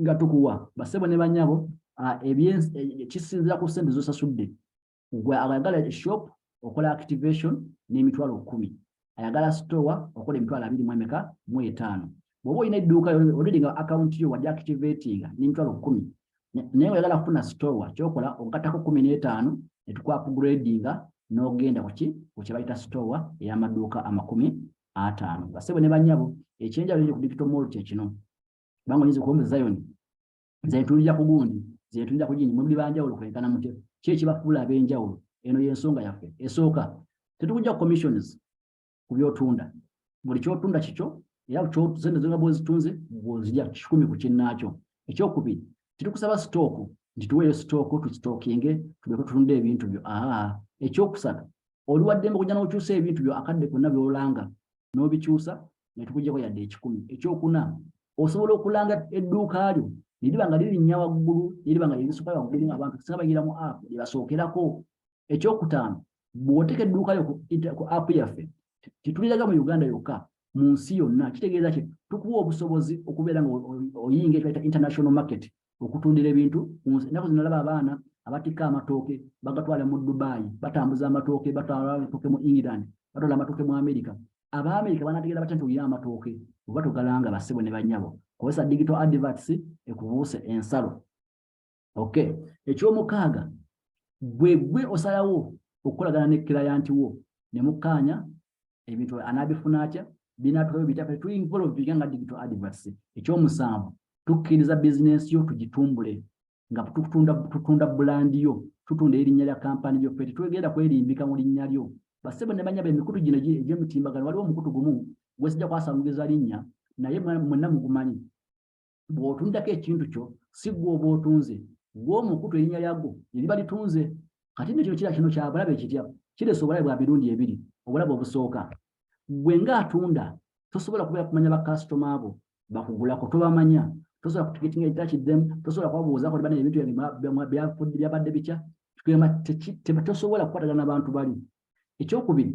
Speaker 1: nga tukuwa basebo ne banyabo ah, eh, kisinzira ku sente zosasudde gwe abayagala shop okola activation n'emitwalo kumi ayagala store okola emitwalo abiri mu emeka mu etaano bw'oba olina edduuka olidi nga akawunti yo wali activatinga n'emitwalo kumi naye oyagala kufuna store kyokola ogattako kumi n'etaano netukwapugradinga n'ogenda kuki ku kyebayita store ey'amaduuka amakumi ataano basebo ne banyabo ekyenjawulo eri ku digital mall kyekino kubanga oyinza okuba mu zayoni zentunulira ku gundi zentunulira ku gindi muli banjawulo kwenkana mutya ki ekibafuula ab'enjawulo eno y'ensonga yaffe esooka tetukujja commissions ku byotunda buli kyotunda kikyo era sente zonga bwozitunze bwozija kikumi ku kinnaakyo ekyokubiri tetukusaba sitooku nti tuweeyo sitooku tusitookinge tuleke tutunde ebintu byo aa ekyokusatu oli waddembe okujja n'okyusa ebintu byo akadde konna byolanga n'obikyusa ne tukujjako yadde ekikumi ekyokuna osobola okulanga edduuka lyo neriba nga lirinnya waggulu neriba nga lyerisuka waggulu abantu singa bayira mu app lyebasookerako ekyokutaano bwoteka edduuka lyo ku app yaffe tetuliraga mu uganda yokka mu nsi yonna kitegeeza ki tukuwa obusobozi okubeera nga oyinga ekibata international market okutundira ebintu ku nsi ennaku zino olaba abaana abatikka amatooke bagatwala mu dubayi batambuza amatooke batwala amatooke mu england batwala amatooke mu amerika abaamerika banategeera batya nti olina amatooke oba togalanga bassebo ne banyabo kozesa digital adverts ekubuuse ensalo ok ekyomukaaga gwe gwe osalawo okukolagana ne kilayanti wo ne mukkaanya ebintu anabifuna atya binatwayo bitya kati tuinvolvinga nga digital advocacy ekyomusanvu tukkiriza bizinensi yo tugitumbule nga tutunda bulandi yo tutunda erinnya lya kampani yo fe tetwegenda kwerimbika mu linnya lyo basebo ne banyaba emikutu gino egyemitimbagano waliwo omukutu gumu gwesijja kwasanguliza linnya naye mwenna mugumanyi bw'otunzako ekintu kyo si gwe oba otunze gwe omukutu erinnya lyagwo eriba litunze kati nno kino kira kino kya bulabe kitya kiresa obulabe bwa mirundi ebiri obulabe obusooka gwe ng'atunda tosobola kubeera kumanya bakasitoma abo bakugulako tobamanya tosobola kutugetinga ekitaki them tosobola kubabuuzako tibana ebintu byabadde bitya tugamba tosobola kukwatagana na bantu bali ekyokubiri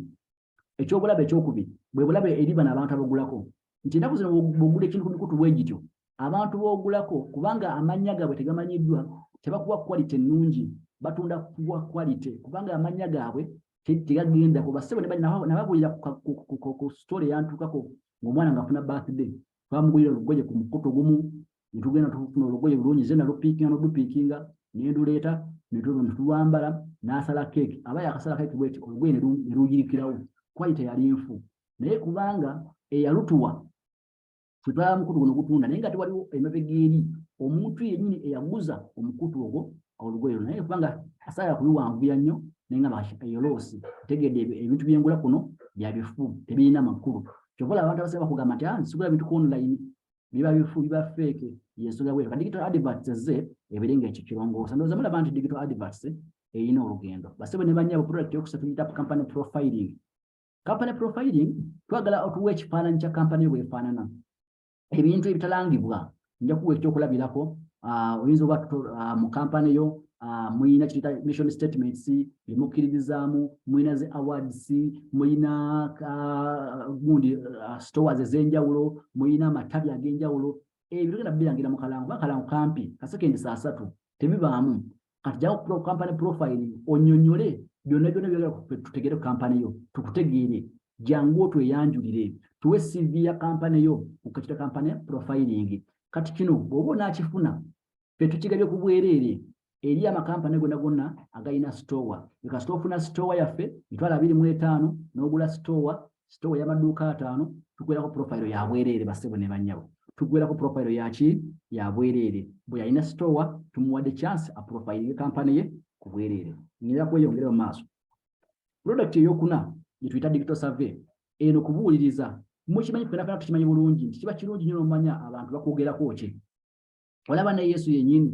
Speaker 1: ekyobulabe ekyokubiri bwe bulabe eri bano abantu abagulako nti enaku zino bwogula ekintu ku mikutu bwegityo abantu bogulako kubanga amannya gaabwe tegamanyiddwa tebakuwa quality ennungi batunda kuwa quality kubanga amannya gaabwe tegagendako basebo nababulira ku story yantukako ngaomwana ngaafuna birthday twamugulira olugoye ku mukutu gumu ne tugenda tufuna olugoye lulungi ze nalupiikinga n'odupiikinga ne nduleeta ne tulwambala n'asala keeki aba yakasala keeki bweti olugoye ne luyirikirawo kwali teyali nfu naye kubanga eyalutuwa twetwala mukutu guno gutunda naye nga tewaliwo emabega eri omuntu yennyini eyaguza omukutu ogwo olugoye luno naye kubanga asaala kubiwanvuya nnyo naye nga eyoloosi tegedde ebintu byengula kuno byabifu tebirina makulu kyova olaba abantu abasinga bakugamba nti ah, nsigula bintu ku online biba bifu biba feeke yensonga bweru ka digital adverts ezze ebere nga ekyo kirongoosa ndowooza mulaba nti digital adverts eyina olugendo basebo ne banyabo product yokusa tuyita company profiling company profiling twagala otuwa ekifaananyi kya company bwefaanana ebintu ebitalangibwa nja kuwa ekyokulabirako ah, oyinza oba ah, mu kampani yo ah, muyina kiyita mission statements emukkiririzaamu muyina zi awards muyina gundi stores ez'enjawulo muyina amatabi ag'enjawulo ebyo tugenda bibirangira mu kalango kuba kalango kampi kasekendi saa satu tebibaamu kati jawo pro company profile onyonyole byonna byonna byogera tutegere company yo tukutegeere jangu otweyanjulire tuwe cv ya company yo okakita company profiling kati kino bwoba onakifuna fe tukigabye ku bwereere eri amakampani gonna gonna agalina sitowa ekasita ofuna sitowa yaffe mitwalo abiri mu etaano n'ogula sitowa sitowa ey'amaduuka ataano tugwerako purofayiro ya bwereere basebo ne bannyabo tugwerako purofayiro yaki ya bwereere bwe yalina sitowa tumuwadde chance apurofayirire kampani ye ku bwereere ngera kweyongere mu maaso pulodakiti eyokuna gye tuyita digital survey eno kubuuliriza mukimanyi fenafena tukimanyi bulungi nti kiba kirungi nyo nomanya abantu bakwogerako ki olaba ne yesu yenyini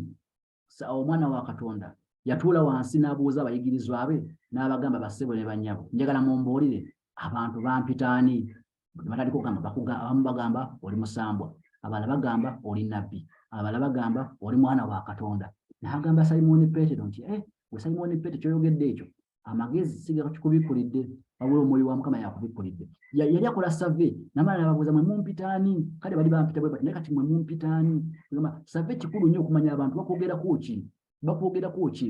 Speaker 1: awo omwana wa katonda yatuula wansi n'abuuza abayigirizwa be n'abagamba bassebo ne bannyabo njagala mumbuulire abantu bampita ani batandika okugamba abamu bagamba oli musambwa abala bagamba oli nabbi abala bagamba oli mwana wa katonda naagamba simooni peetero nti e eh, gwe simooni peetero kyoyogedde ekyo amagezi sigakikubikulidde wabula omwoyo wa mukama yakubikulidde yali akola save namala nababuuza mwe mumpitaani kale bali bampita bwe naye kati mwe mumpitaani gamba save kikulu nnyo okumanya abantu bakwogerako ki bakwogerako ki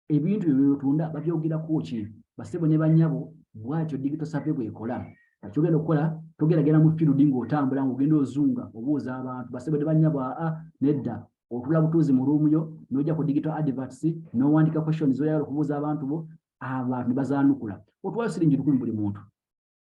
Speaker 1: ebintu byo byotunda babyogerako ki basebo ne banyabo bwatyo digito save bwekola akyogenda okukola togeragera mu firudi ng'otambula ng'ogenda ozunga obuuza abantu basebo ne banyabo aa nedda otula butuuzi mu room yo noja ku digital adverts nowandika questions zoyagala okubuuza abantu bo abantu ne bazaanukula otwala siringi lukumi buli muntu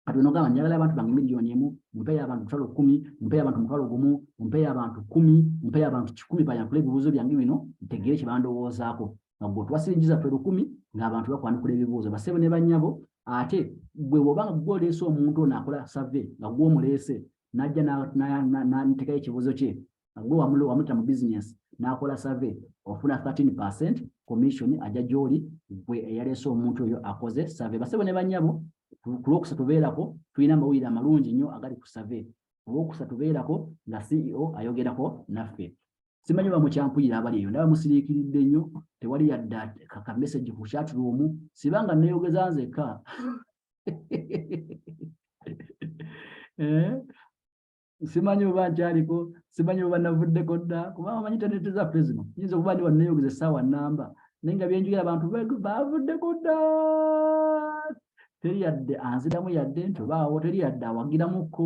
Speaker 1: kati onogamba njagala abantu bange miliyoni emu mpeyo abantu mutwalo kumi mpeyo abantu mutwalo gumu mpeyo abantu kumi mpeyo abantu kikumi bayankula ebibuuzo byange bino ntegere kye bandowoozaako nga gwe otwala siringi zaffe lukumi ng'abantu bakwanukula ebibuuzo basebo ne bannyabo ate gwe bwoba nga gwe oleese omuntu ono akola save nga gwe omuleese najja natekayo ekibuuzo kye gwe wamulo wamuta mu business n'akola survey ofuna 13% commission ajja gy'oli gwe eyaleese omuntu oyo akoze survey basebo ne bannyabo ku lwokusatu beerako tulina amawulire amalungi nnyo agali ku survey ku lwokusatu beerako nga ceo ayogerako naffe simanyi oba mukyampulira abali eyo ndaba musiriikiridde nnyo tewali yadda ka message ku chat room siba nga nneeyogeza nzekka eh? simanyi oba nkyaliko simanyi oba navuddeko dda kubanga omanyi intaneti zaffe zino nyinza okuba ndi waneyogeza essaawa namba naye nga byenjogera abantu bavuddeko dda teri yadde anziramu yadde nti obaawo teri yadde awagiramukko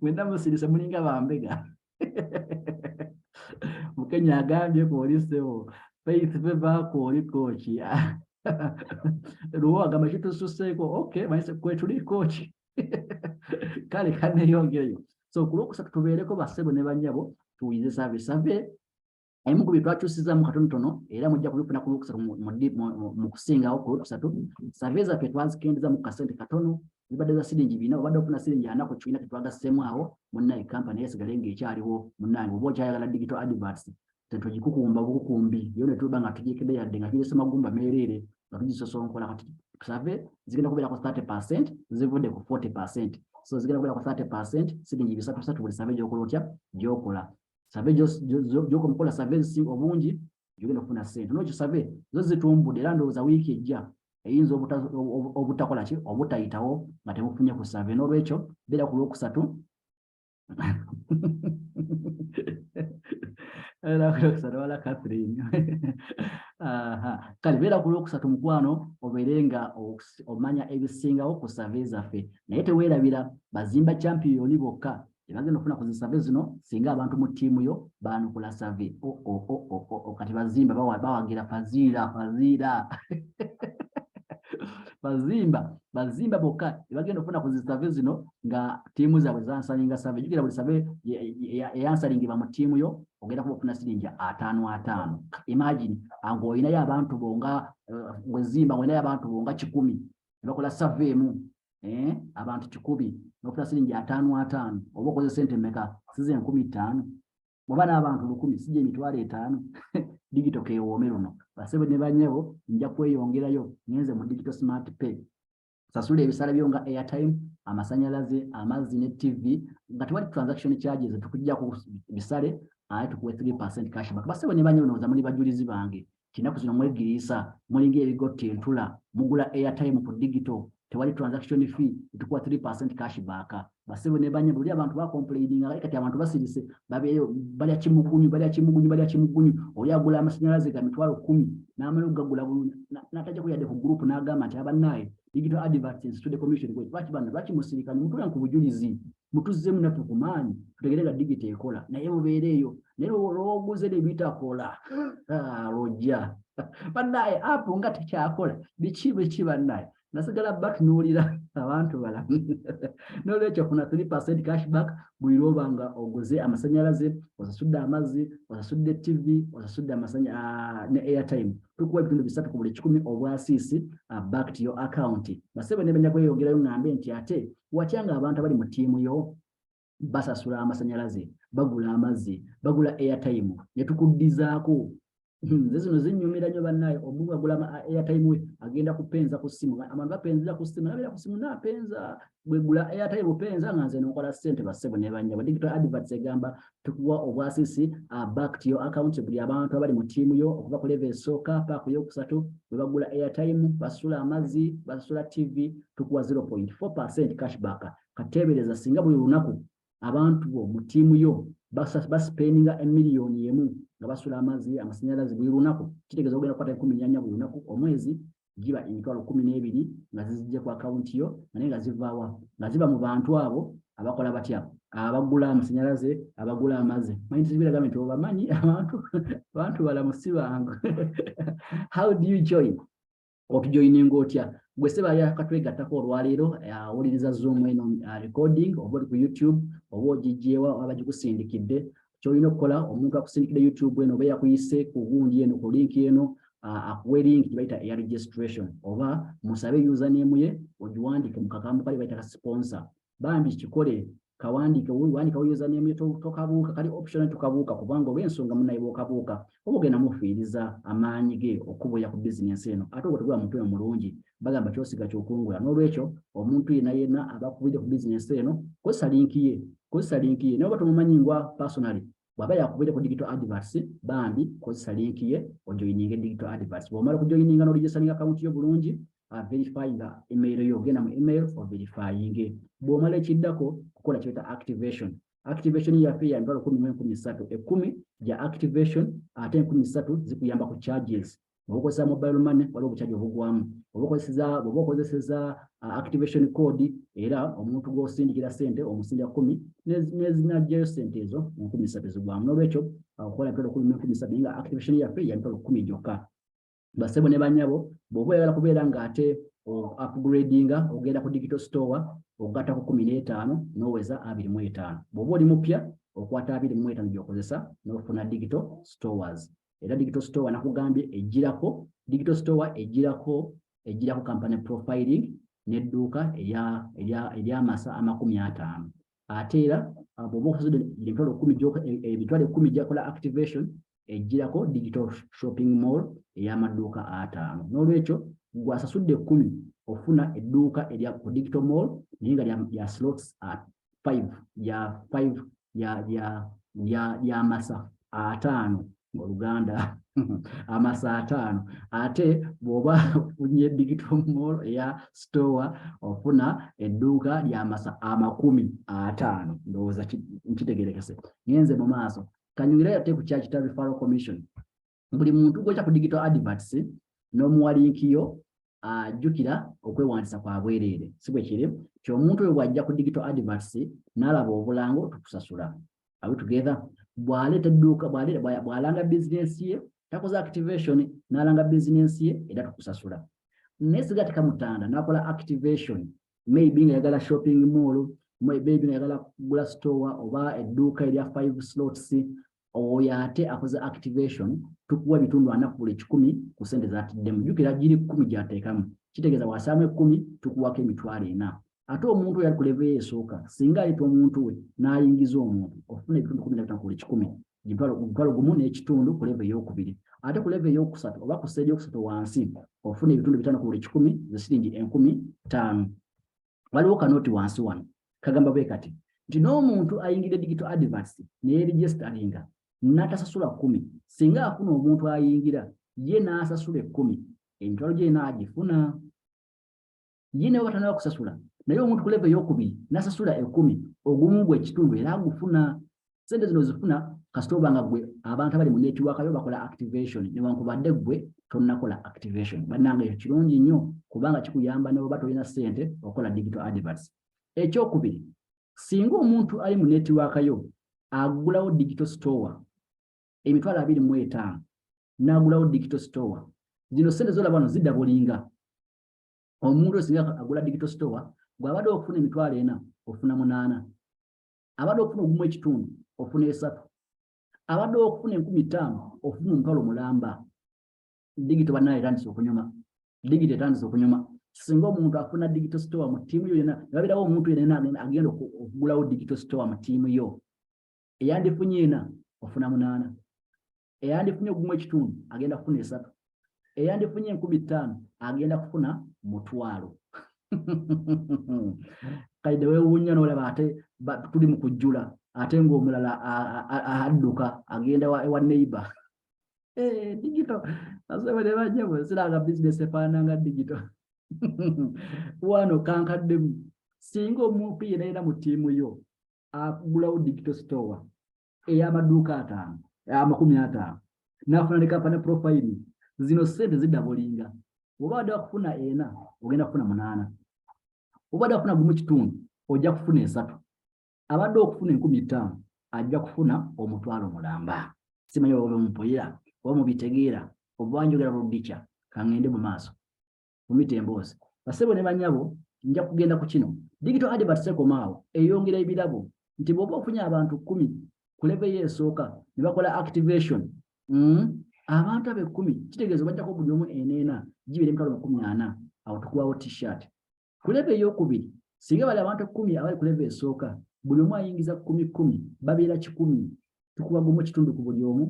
Speaker 1: mwena musirise mulinga bambega mukenya agambye kwoli ssebo faith veva kwoli kooki luwo agamba kitususseeko ok manyi kwetuli kooki kale kaneyongereyo so ku lwokusatu tubeereko bassebo ne banyabo tuwulirize saavisave ebimu ku bintu akyusizaamu katonotono era mujja kubifuna ku lwokusatu mu kusingawo ku lwokusatu save zaffe twazikendeza mu kasente katono zibadde za siringi bina obadde ofuna siringi ana ku kibiina tetwagassemu awo munnaye kampani yesigale ng'ekyaliwo munnange oba okyayagala digital adverts tetugikukumba bukukumbi yo ne tuba nga tugikede yadde nga girese magumba meereere nga tugisosonkola kati save zigenda kubeerako 30 percent zivudde ku 40 percent so zigenda kubeerako 30 percent siringi bisatu bisatu buli save gyokola otya gyokola save gyoka omukola save zisi obungi gyogenda okufuna sente nokyo save zo zitumbudde era ndowooza wiiki ejja eyinza obutakola ki obutayitawo nga temufunye ku save n'olwekyo beera ku lwokusatu wala catherine kale beera ku lwokusatu mukwano obeere nga omanya ebisingawo ku save zaffe naye teweerabira bazimba champiyoni bokka ebagenda okufuna ku zisave zino singa abantu mu ttiimu yo baanukula save oh, oh, oh, kati bazimba bawagira faziira faziira bazimba bazimba bokka ebagenda okufuna ku zisave zino nga ttiimu zaabwe zansalinga save jukira buli save eyansalingibwa mu ttiimu yo ogenda kuba ofuna siringi ataano ataano imagine nga olinayo abantu bo nga eh, wezimba nga olinayo abantu bo nga kikumi nebakola save emu eh, abantu kikumi nofuna siringi ataano ataano oba okoze sente meka size enkumi ttaano bwaba n'abantu lukumi sija emitwalo etaano digito kewoome luno basebe ne banyabo nja kweyongerayo ngenze mu digito smart pay sasula ebisala byo nga airtime amasanyalaze amazzi ne tv nga tewali transaction charges tukujja ku bisale aye tukuwe 3 percent cashback basebe ne banyabo noza muli bajulizi bange Kinaku zino mwegiriisa mulinga ebigotta entula mugula airtime ku digital tewali transaction fee etukuwa 3% cash back basebo ne banye buli abantu ba complaining nga kati abantu basirise babeyo balya kimukunyu balya kimukunyu balya kimukunyu oli agula amasanyalaze ga mitwalo 10 n'amala okugagula bulungi n'atajja kuyadde ku group n'agamba nti abannaye digital adverts institute commission kwe lwaki banno lwaki musirikani mutule ku bujulizi mutuzzemu naffe ku maanyi tutegere nga digiti ekola naye mubeere eyo naye olwoguze ne bitakola ah, lwojja bannaye apu nga tekyakola biki biki bannaye nasigala batunuulira abantu balamu nolwekyo kuna 3 percent cashback buli lwoba nga oguze amasanyalaze osasudde amazzi osasudde tv osasudde amasanya ah, ne airtime tukuwa ebitundu bisatu ku buli kikumi obwasiisi ah, back to your account basebe nebenya kweyogerayo ngambe nti ate watya nga abantu abali mu tiimu yo basasula amasanyalaze bagula amazzi bagula airtime netukuddizaako hmm, nze zino zinyumira nyo banaye omuntu agula airtime we agenda kupenza ku simu abantu bapenzera ku simu nabera ku simu napenza bwegula airtime openza nga nze nokola sente basebo nebanyabo digital adverts egamba tukuwa obwasisi uh, back to your account buli abantu abali mu tiimu yo okuva ku leve esooka paaku yokusatu bwe bagula airtime basula amazzi basula tv tukuwa 0.4 percent cashback kateebereza singa buli lunaku abantu bo mu tiimu yo basipendinga emiliyoni emu nga basula amazzi amasanyalaze buli lunaku kitegeeza ogenda kukwata enkumi nyanya buli lunaku omwezi giba emitwalo kumi n'ebiri nga zizijja ku akawunti yo nga naye nga zivaawa nga ziba mu bantu abo abakola batya abagula amasanyalaze abagula amazi manyi tizibiraga nti obamanyi abantu abantu balamu si bangu how do you join otujoininga otya gwe seba yakatwegattako olwaleero awuliriza zoom eno uh, recording oba oli ku youtube oba ogijjeewa aba gikusindikidde kyolina okukola omuntu akusindikidde youtube eno oba yakuyise ku gundi eno ku linki eno akuwe linki gyebayita eya registration oba musabe username ye ogiwandiike mu kagambo kali bayita ka sponsor bambi kikole kawandiike wandikawo username ye tokabuuka kali optional tokabuuka kubanga olw'ensonga munaye bwokabuuka oba ogenda mufiiriza amaanyi ge okubuya ku bizinensi eno ate obwo tegula mutwe omulungi bagamba kyosiga kyokungula n'olwekyo omuntu yena yena abakubidde ku bizinensi eno kozesa linki ye kozesa linki ye naye oba tomumanyi ngwa personally bwaba yakubire ku digital adverts bambi kozesa link ye ojoininge digital adverts bwomala kujoininga no registering account yo bulungi uh, verify nga email yo ogenda mu email o verifyinge bwomala ekiddako kukola kyeta activation activation yaffe ya mitwalo kumi mu enkumi ssatu ekkumi gya activation ate enkumi ssatu zikuyamba ku charges oba okozesa mobile money waliwo obucaji obugwamu oba okozeseza oba okozeseza uh, activation code era omuntu gw'osindikira sente omusindira kumi nezinajjayo sente ezo mu nkumi ssatu zigwamu n'olwekyo uh, okukola mitwalo kumi mu enkumi ssatu naye nga activation yaffe ya mitwalo kumi gyokka basebo ne banyabo bwoba oyagala kubeera nga ate upgradinga ogenda ku digital store ogatta ku kumi n'etaano n'oweza abiri mu etaano bw'oba oli mupya okwata abiri mu etaano gy'okozesa n'ofuna digital stores era digital store nakugambye ejjirako digital store ejjirako ejjirako company profiling n'edduuka ery'amasa amakumi ataano ate era ah, bwoba osasudde emitwalo kumi eh, emitwalo ekkumi gyakola activation ejjirako digital shopping mall ey'amaduuka ataano n'olwekyo gwasasudde ekkumi ofuna edduuka erya ku digital mall naye nga lya slots at five lya five lyamasa ataano oluganda amasa ataano ate bw'oba ofunye digital mall eya store ofuna edduuka lyamasa amakumi ataano ndowooza nkitegerekese ngenze mu maaso kanyumire ate ku kya kita referral commission buli muntu gwokya ku digital adverts n'omuwalinkiyo ajjukira okwewandisa kwa bwereere si bwe kiri nti omuntu oyo bw'ajja ku digital adverts n'alaba obulango tukusasula awe together bw'aleeta edduuka bw'alanga bizinensi ye takoze activation n'alanga bizinensi ye era tukusasula naye siga tekamutanda n'akola activation maybe nga yagala shopping mall maybe nga yagala kugula store oba edduuka erya five slots oyo ate akoze activation tukuwa ebitundu ana ku buli kikumi ku sente zatiddemu jukira giri kumi gyateekamu kitegeeza wasaamu ekumi tukuwako emitwalo ena ate omuntu yali ku levo esooka singa ayita omuntu we n'ayingiza omuntu ofuna ebitundu kumi nabitano ku buli kikumi omutwalo gumu n'ekitundu ku levo eyokubiri ate ku levo eyokusatu oba ku seeri yokusatu wansi ofuna ebitundu bitano ku buli kikumi zesiringi enkumi ttaano waliwo kanoti wansi wano kagamba bwe kati nti n'omuntu ayingidde digital advance neyeregistaringa natasasula kumi singa afuna omuntu ayingira ye n'asasula ekkumi emitwalo gye naagifuna ye nawe batanaba kusasula naye omuntu ku leve eyokubiri nasasula ekkumi ogumu gwe ekitundu era agufuna sente zino zifuna kasita oba nga gwe abantu abali mu netiwaka yo bakola activation newankubadde gwe tonakola activation bannanga ekyo kirungi nnyo kubanga kikuyamba neoba tolina sente okola digital adverts ekyokubiri singa omuntu ali mu netiwaka yo agulawo digital store emitwalo abiri mu etaano n'agulawo digital store zino sente zolaba wano zidabulinga omuntu osinga agula digital store gwabadde okufuna emitwalo ena ofuna munaana abadde okufuna ogumu ekitundu ofuna esatu abadde okufuna enkumi ttaano ofuna omutwalo mulamba digito banaye etandise okunyuma digito etandise okunyuma singa omuntu afuna digital store mu ttiimu yo yona ebabirawo omuntu yena agenda okugulawo digital store mu ttiimu yo eyandifunye ena ofuna munaana eyandifunye ogumu ekitundu agenda kufuna esatu eyandifunye enkumi ttaano agenda kufuna mutwalo kaide wewuunya nolaba ate tuli mu kujjula ate ng'omulala adduka agenda ewa neighbor eh, digito asebere bajjabo siranga bizinesi efaananga digito wano kankaddemu singa omuntu yena yena mu ttiimu yo akugulawo digito store ey'amaduuka ataano amakumi ataano n'afuna ne kampani profayiri zino ssente ziddabulinga oba wadde wakufuna ena ogenda kufuna munaana oba wadde wakufuna gumu kitundu ojja kufuna esatu abadde okufuna enkumi ttaano ajja kufuna omutwalo mulamba simanyi oba mupulira oba mubitegeera oba njogera lubikya kangende mu maaso kumita emboozi basebo ne banyabo nja kugenda ku kino digital advert sekomaawo eyongera ebirabo nti bwoba ofunye abantu kumi ku leve yo esooka ne bakola activation mm, abantu abo ekumi kitegeeza obajjako buli omu eneena gibira emitwalo makumi ana awo tukuwawo t-shirt ku leve eyokubiri singa bali abantu ekumi abali ku leve esooka buli omu ayingiza kumi kumi babeera kikumi tukuwa gumu ekitundu ku buli omu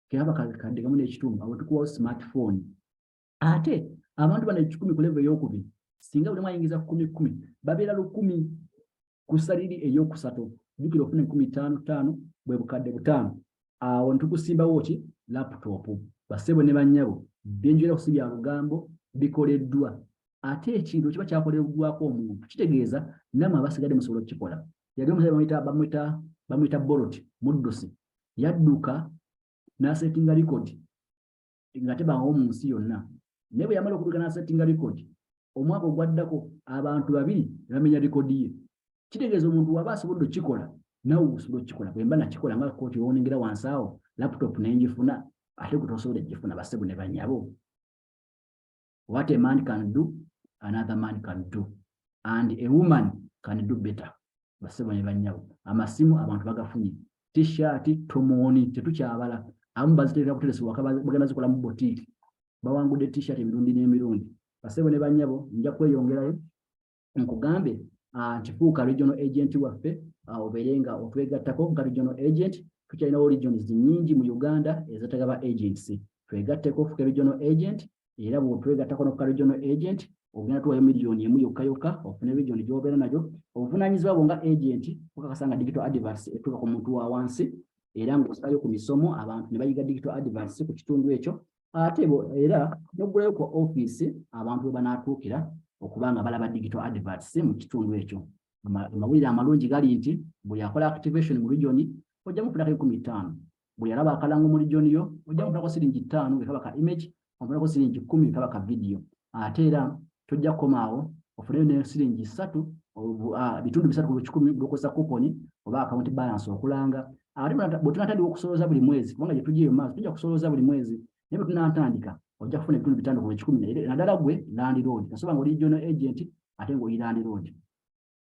Speaker 1: kebaba kadde kamu n'ekitundu awo tukuwawo smartphone ate abantu bano ekikumi ku levo eyokubiri singa bulimu ayingiza kumi kumi babeera lukumi ku saliri eyokusatu jukira ofuna enkumi taano taano bwe bukadde butaano awo ntukusimbawo ki laputopu basebo ne banyabo byenjogera kusi bya lugambo bikoleddwa ate ekintu kiba kyakoleddwako omuntu kitegeeza namwe abasigadde musobola okukikola yali omusajja bamwita bamwita borot muddusi yadduka n'asetinga likodi nga tebangawo mu nsi yonna naye bwe yamala okutuuka n'asettinga likodi omwaka ogwaddako abantu babiri ne bamenya likodi ye kitegeeza omuntu waba asobodde okukikola nawe osobola okukikola bwe mba nakikola nga kooti owonengera wansi awo laputopu ne ngifuna ate gwe tosobola egifuna basebo ne banyabo what a man can do another man can do and a woman can do better basebo ne banyawo amasimu abantu bagafunye t-shirt tomoni tetukyabala abamu baziterera kuteresa waka bagenda zikola mu botiki bawangudde t-shirt emirundi n'emirundi basebo ne banyabo nja kweyongerayo nkugambe ah, nti fuuka regional agent waffe ah, obeere nga otwegattako nga regional agent tukyalinawo regions nyingi mu uganda ezetaga ba agents twegatteko fuka regional agent era bwotwegattako nokuka regional agent ogenda tuwayo miliyoni emu yokka yokka ofune region gyobeera nayo obuvunanyizibwa bwo nga agent okakasa nga digital advers etuuka ku muntu wa wansi era ngaosalayo ku misomo abantu ne bayiga digital advers ku kitundu ekyo ate era n'oggulayo ku ofiisi abantu we banaatuukira okuba nga balaba digital adverts mu kitundu ekyo amawulire amalungi gali nti buli akola activation mu regioni ojja mufunako enkumi ttaano buli alaba akalango mu regioni yo ojja mufunako siringi ttaano ekaba ka image omufunako siringi kkumi ekaba ka vidiyo ate era tojja kukomaawo ofuneyo ne siringi ssatu bitundu bisatu ku kikumi byokozesa kuponi oba akawunti balance okulanga ate bwe tunatandika okusolooza buli mwezi kubanga gye tujja eyo maaso tujja kusolooza buli mwezi naye bwe tunatandika ojja kufuna ebitundu bitano ku ekikumi naddala gwe landiroodi kasoba nga oli regional agent ate ng'oli landiroodi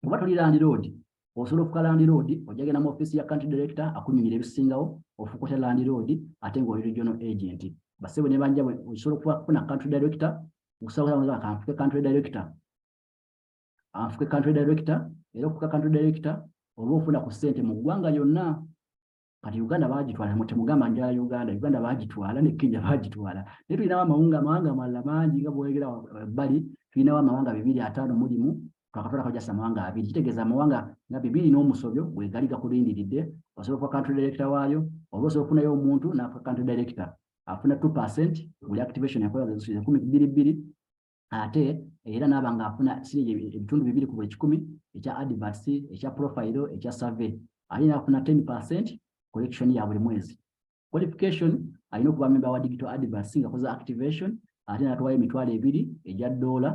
Speaker 1: oba toli landiroodi osobola ofuka landiroodi ojja genda mu ofiisi ya country director akunyumira ebisingawo ofukuta landiroodi ate ng'oli regional agent basebo ne banja osobola okufuna country director okusabaza kanfuke country director afuke country director era okufuka country director oba ofuna ku ssente mu ggwanga lyonna kati uganda bagitwala mutemugamba njala uganda uganda bagitwala ne kenya bagitwala naye tulinawo amawunga amawanga amalala mangi nga bwegera ebbali eh, tulinawo amawanga bibiri ataano mulimu twakatwalako jasa amawanga abiri kitegeeza amawanga nga bibiri n'omusobyo bwegali gakulindiridde osobola okuba country director waayo oba osobola okufunayo omuntu nafuka country director afuna two percent buli activation yakola zikumi bbiri bbiri ate era naaba nga afuna siringi ebitundu bibiri ku buli kikumi ekya adverts ekya profile ekya survey alina afuna 10 percent collection ya buli mwezi qualification alina okuba memba wa digital adverts nga koza activation ate natwayo emitwalo ebiri egya doola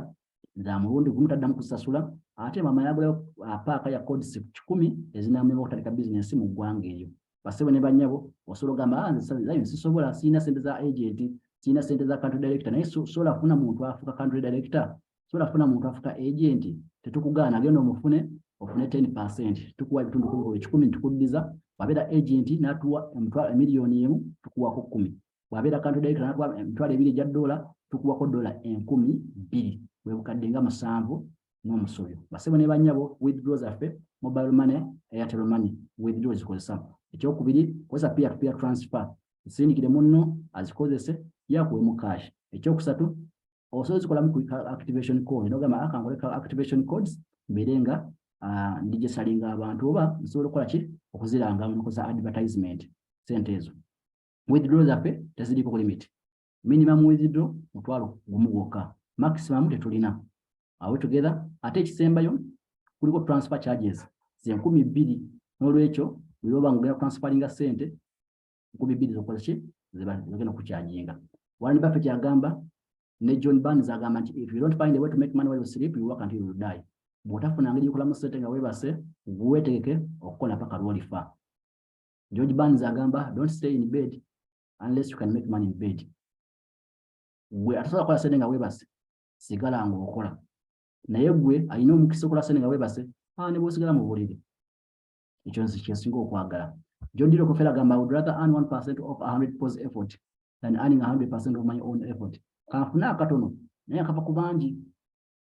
Speaker 1: za mulundi gumu taddamu kusasula ate mama yagulayo uh, paaka ya codes kikumi ezinamuyamba okutandika bizinesi mu ggwanga eyo basebo ne banyabo osobola ogamba ah, nze lion sisobola sirina sente za agent sirina sente za country director naye sobola kufuna muntu afuka country director sobola kufuna muntu afuka agent tetukugaana genda omufune ofune 10 percent tukuwa ebitundu kumi kikumi tukuddiza wabeera agent natuwa emiliyoni emu tukuwako kumi bwabeera kantu dayita natuwa emitwalo ebiri egya doola tukuwako doola enkumi bbiri bwebukadde nga musanvu n'omusubi basebo ne banyabo withdraw zaffe mobile money airtel money withdraw zikozesa ekyokubiri kozesa peer to peer transfer zisindikire munno azikozese yakuwe mu cash ekyokusatu osobola zikolamu ku activation code nogamba akangole ka activation codes mbeere nga ah, ndijesalinga abantu oba nsobola okukola ki okuziranga mukoza advertisement sente ezo withdraw zaffe teziriko ku limit minimum withdraw mutwalo gumu gwokka maximum tetulina awe together ate ekisembayo kuliko transfer charges zenkumi bbiri n'olwekyo bweoba nga ogenda transferinga ssente nkumi bbiri zokola ki zebagenda okukyajinga warren buffett agamba ne john barnes agamba nti if you don't find a way to make money while you sleep you work until you die bw'otafuna ngeri yokolamu ssente nga weebase weetegeke okukola paka lwolifa George Barnes agamba don't stay in bed unless you can make money in bed. Gwe atasobola kukola sente nga weebase sigala ng'okola naye gwe alina omukisa okola sente nga weebase aa ne bw'osigala mu buliri ekyo nze kyensinga okwagala. John Dilo Kofela agamba I would rather earn 1% of 100 pos effort than earning 100% of my own effort. Kanfuna akatono naye akava ku bangi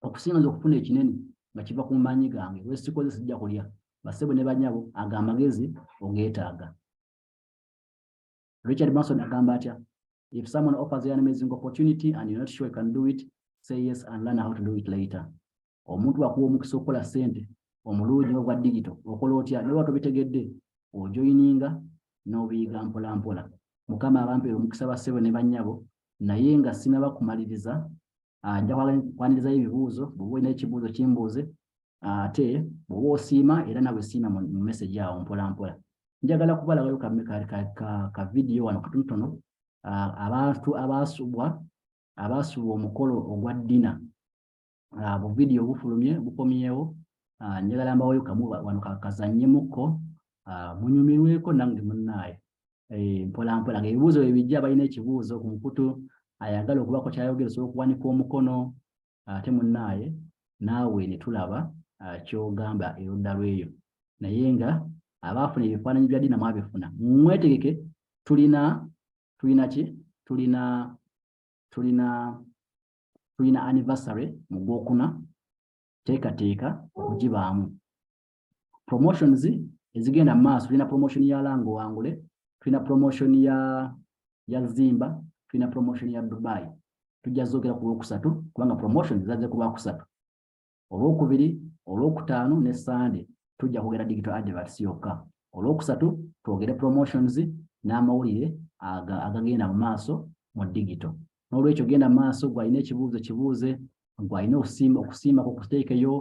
Speaker 1: okusinga nze okufuna ekinene nga kiva ku maanyi gange wesikoze sijja kulya basebo ne banyabo ago amagezi ogeetaaga richard manson agamba atya if someone offers an amazing opportunity and you're not sure you can do it say yes and learn how to do it later omuntu wakuwa omukisa okukola sente omulungi ogwa digito okola otya naye watobitegedde ojoyininga n'obiyiga mpolampola mukama abampeera omukisa basebo ne banyabo naye nga sinaba kumaliriza ah, nja kwanirizayo ebibuuzo bwoba olina ekibuuzo kimbuuze ah, ate bwoba osiima era nawe siima mu message awo mpolampola njagala kubalabayo ka vidiyo wano katonotono ah, abantu abaasubwa abaasubwa omukolo ogwa ddina ah, bu video bufulumye bukomyewo ah, njagala mbaweyo kamu wano kakazanyemukko ah, munyumirweko nange munnaaye eh, mpola mpola nga ebibuuzo bebijja balina ekibuuzo ku mukutu ayagala okubako kyayogera osobola okuwanika omukono ate munnaaye naawe ne tulaba kyogamba erudda lweyo naye nga abaafuna ebifaananyi bya dina mwabifuna mwetegeke tulina tulina ki tulina tulina tulina anniversary mu gwokuna teekateeka okugibaamu promotions ezigenda maaso tulina promotion ya lango wangule tulina promotion ya ya zimba tulina promotion ya dubai tujja zogera ku lwokusatu kubanga promotion zaze ku lwakusatu olwokubiri olwokutaano ne sande tujja kwogera digital adverts yokka olwokusatu twogere promotions n'amawulire agagenda mu maaso mu digital n'olwekyo genda mu maaso gwalina ekibuuzo kibuuze gwalina okusiima ku kuteekeyo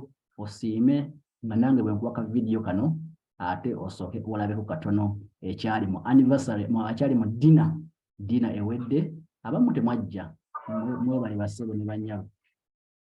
Speaker 1: osiime nga nange bwe nkuba ka vidiyo kano ate osooke olabeko katono ekyali mu anniversary akyali mu dina dina ewedde abamu temwajja mwebali basebo ne banyabo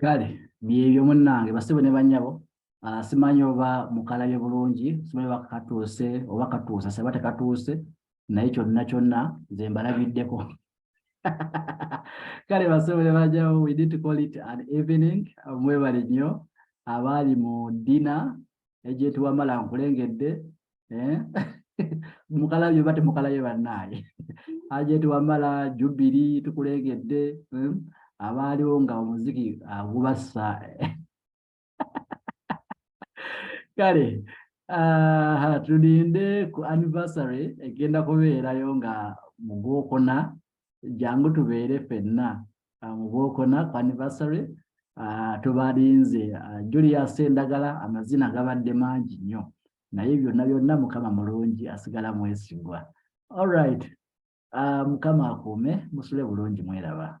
Speaker 1: kale byebyo munnange basebo ne banyabo ah, simanyi oba mukalabye bulungi simanyi oba katuuse oba katuuse seba tekatuuse naye kyonna kyonna nze mbalabiddeko kale basebo ne banyabo we need to call it an evening mwebale nnyo abaali mu dina egyetiwamala nkulengedde eh? mukalabye oba temukalabye bannaaye ajeti wamala jubiri tukuleegedde eh? abaaliwo nga omuziki agubassa eh? kale ah, tulinde ku anniversary egenda kubeerayo nga mu gwokuna jangu tubeere fenna ah, mu gwokuna ku anniversary Ah, tubalinze ah, julius endagala amazina gabadde mangi nnyo naye byonna byonna mukama mulungi asigala mwesigwa allright uh, mukama akuume musule bulungi mweraba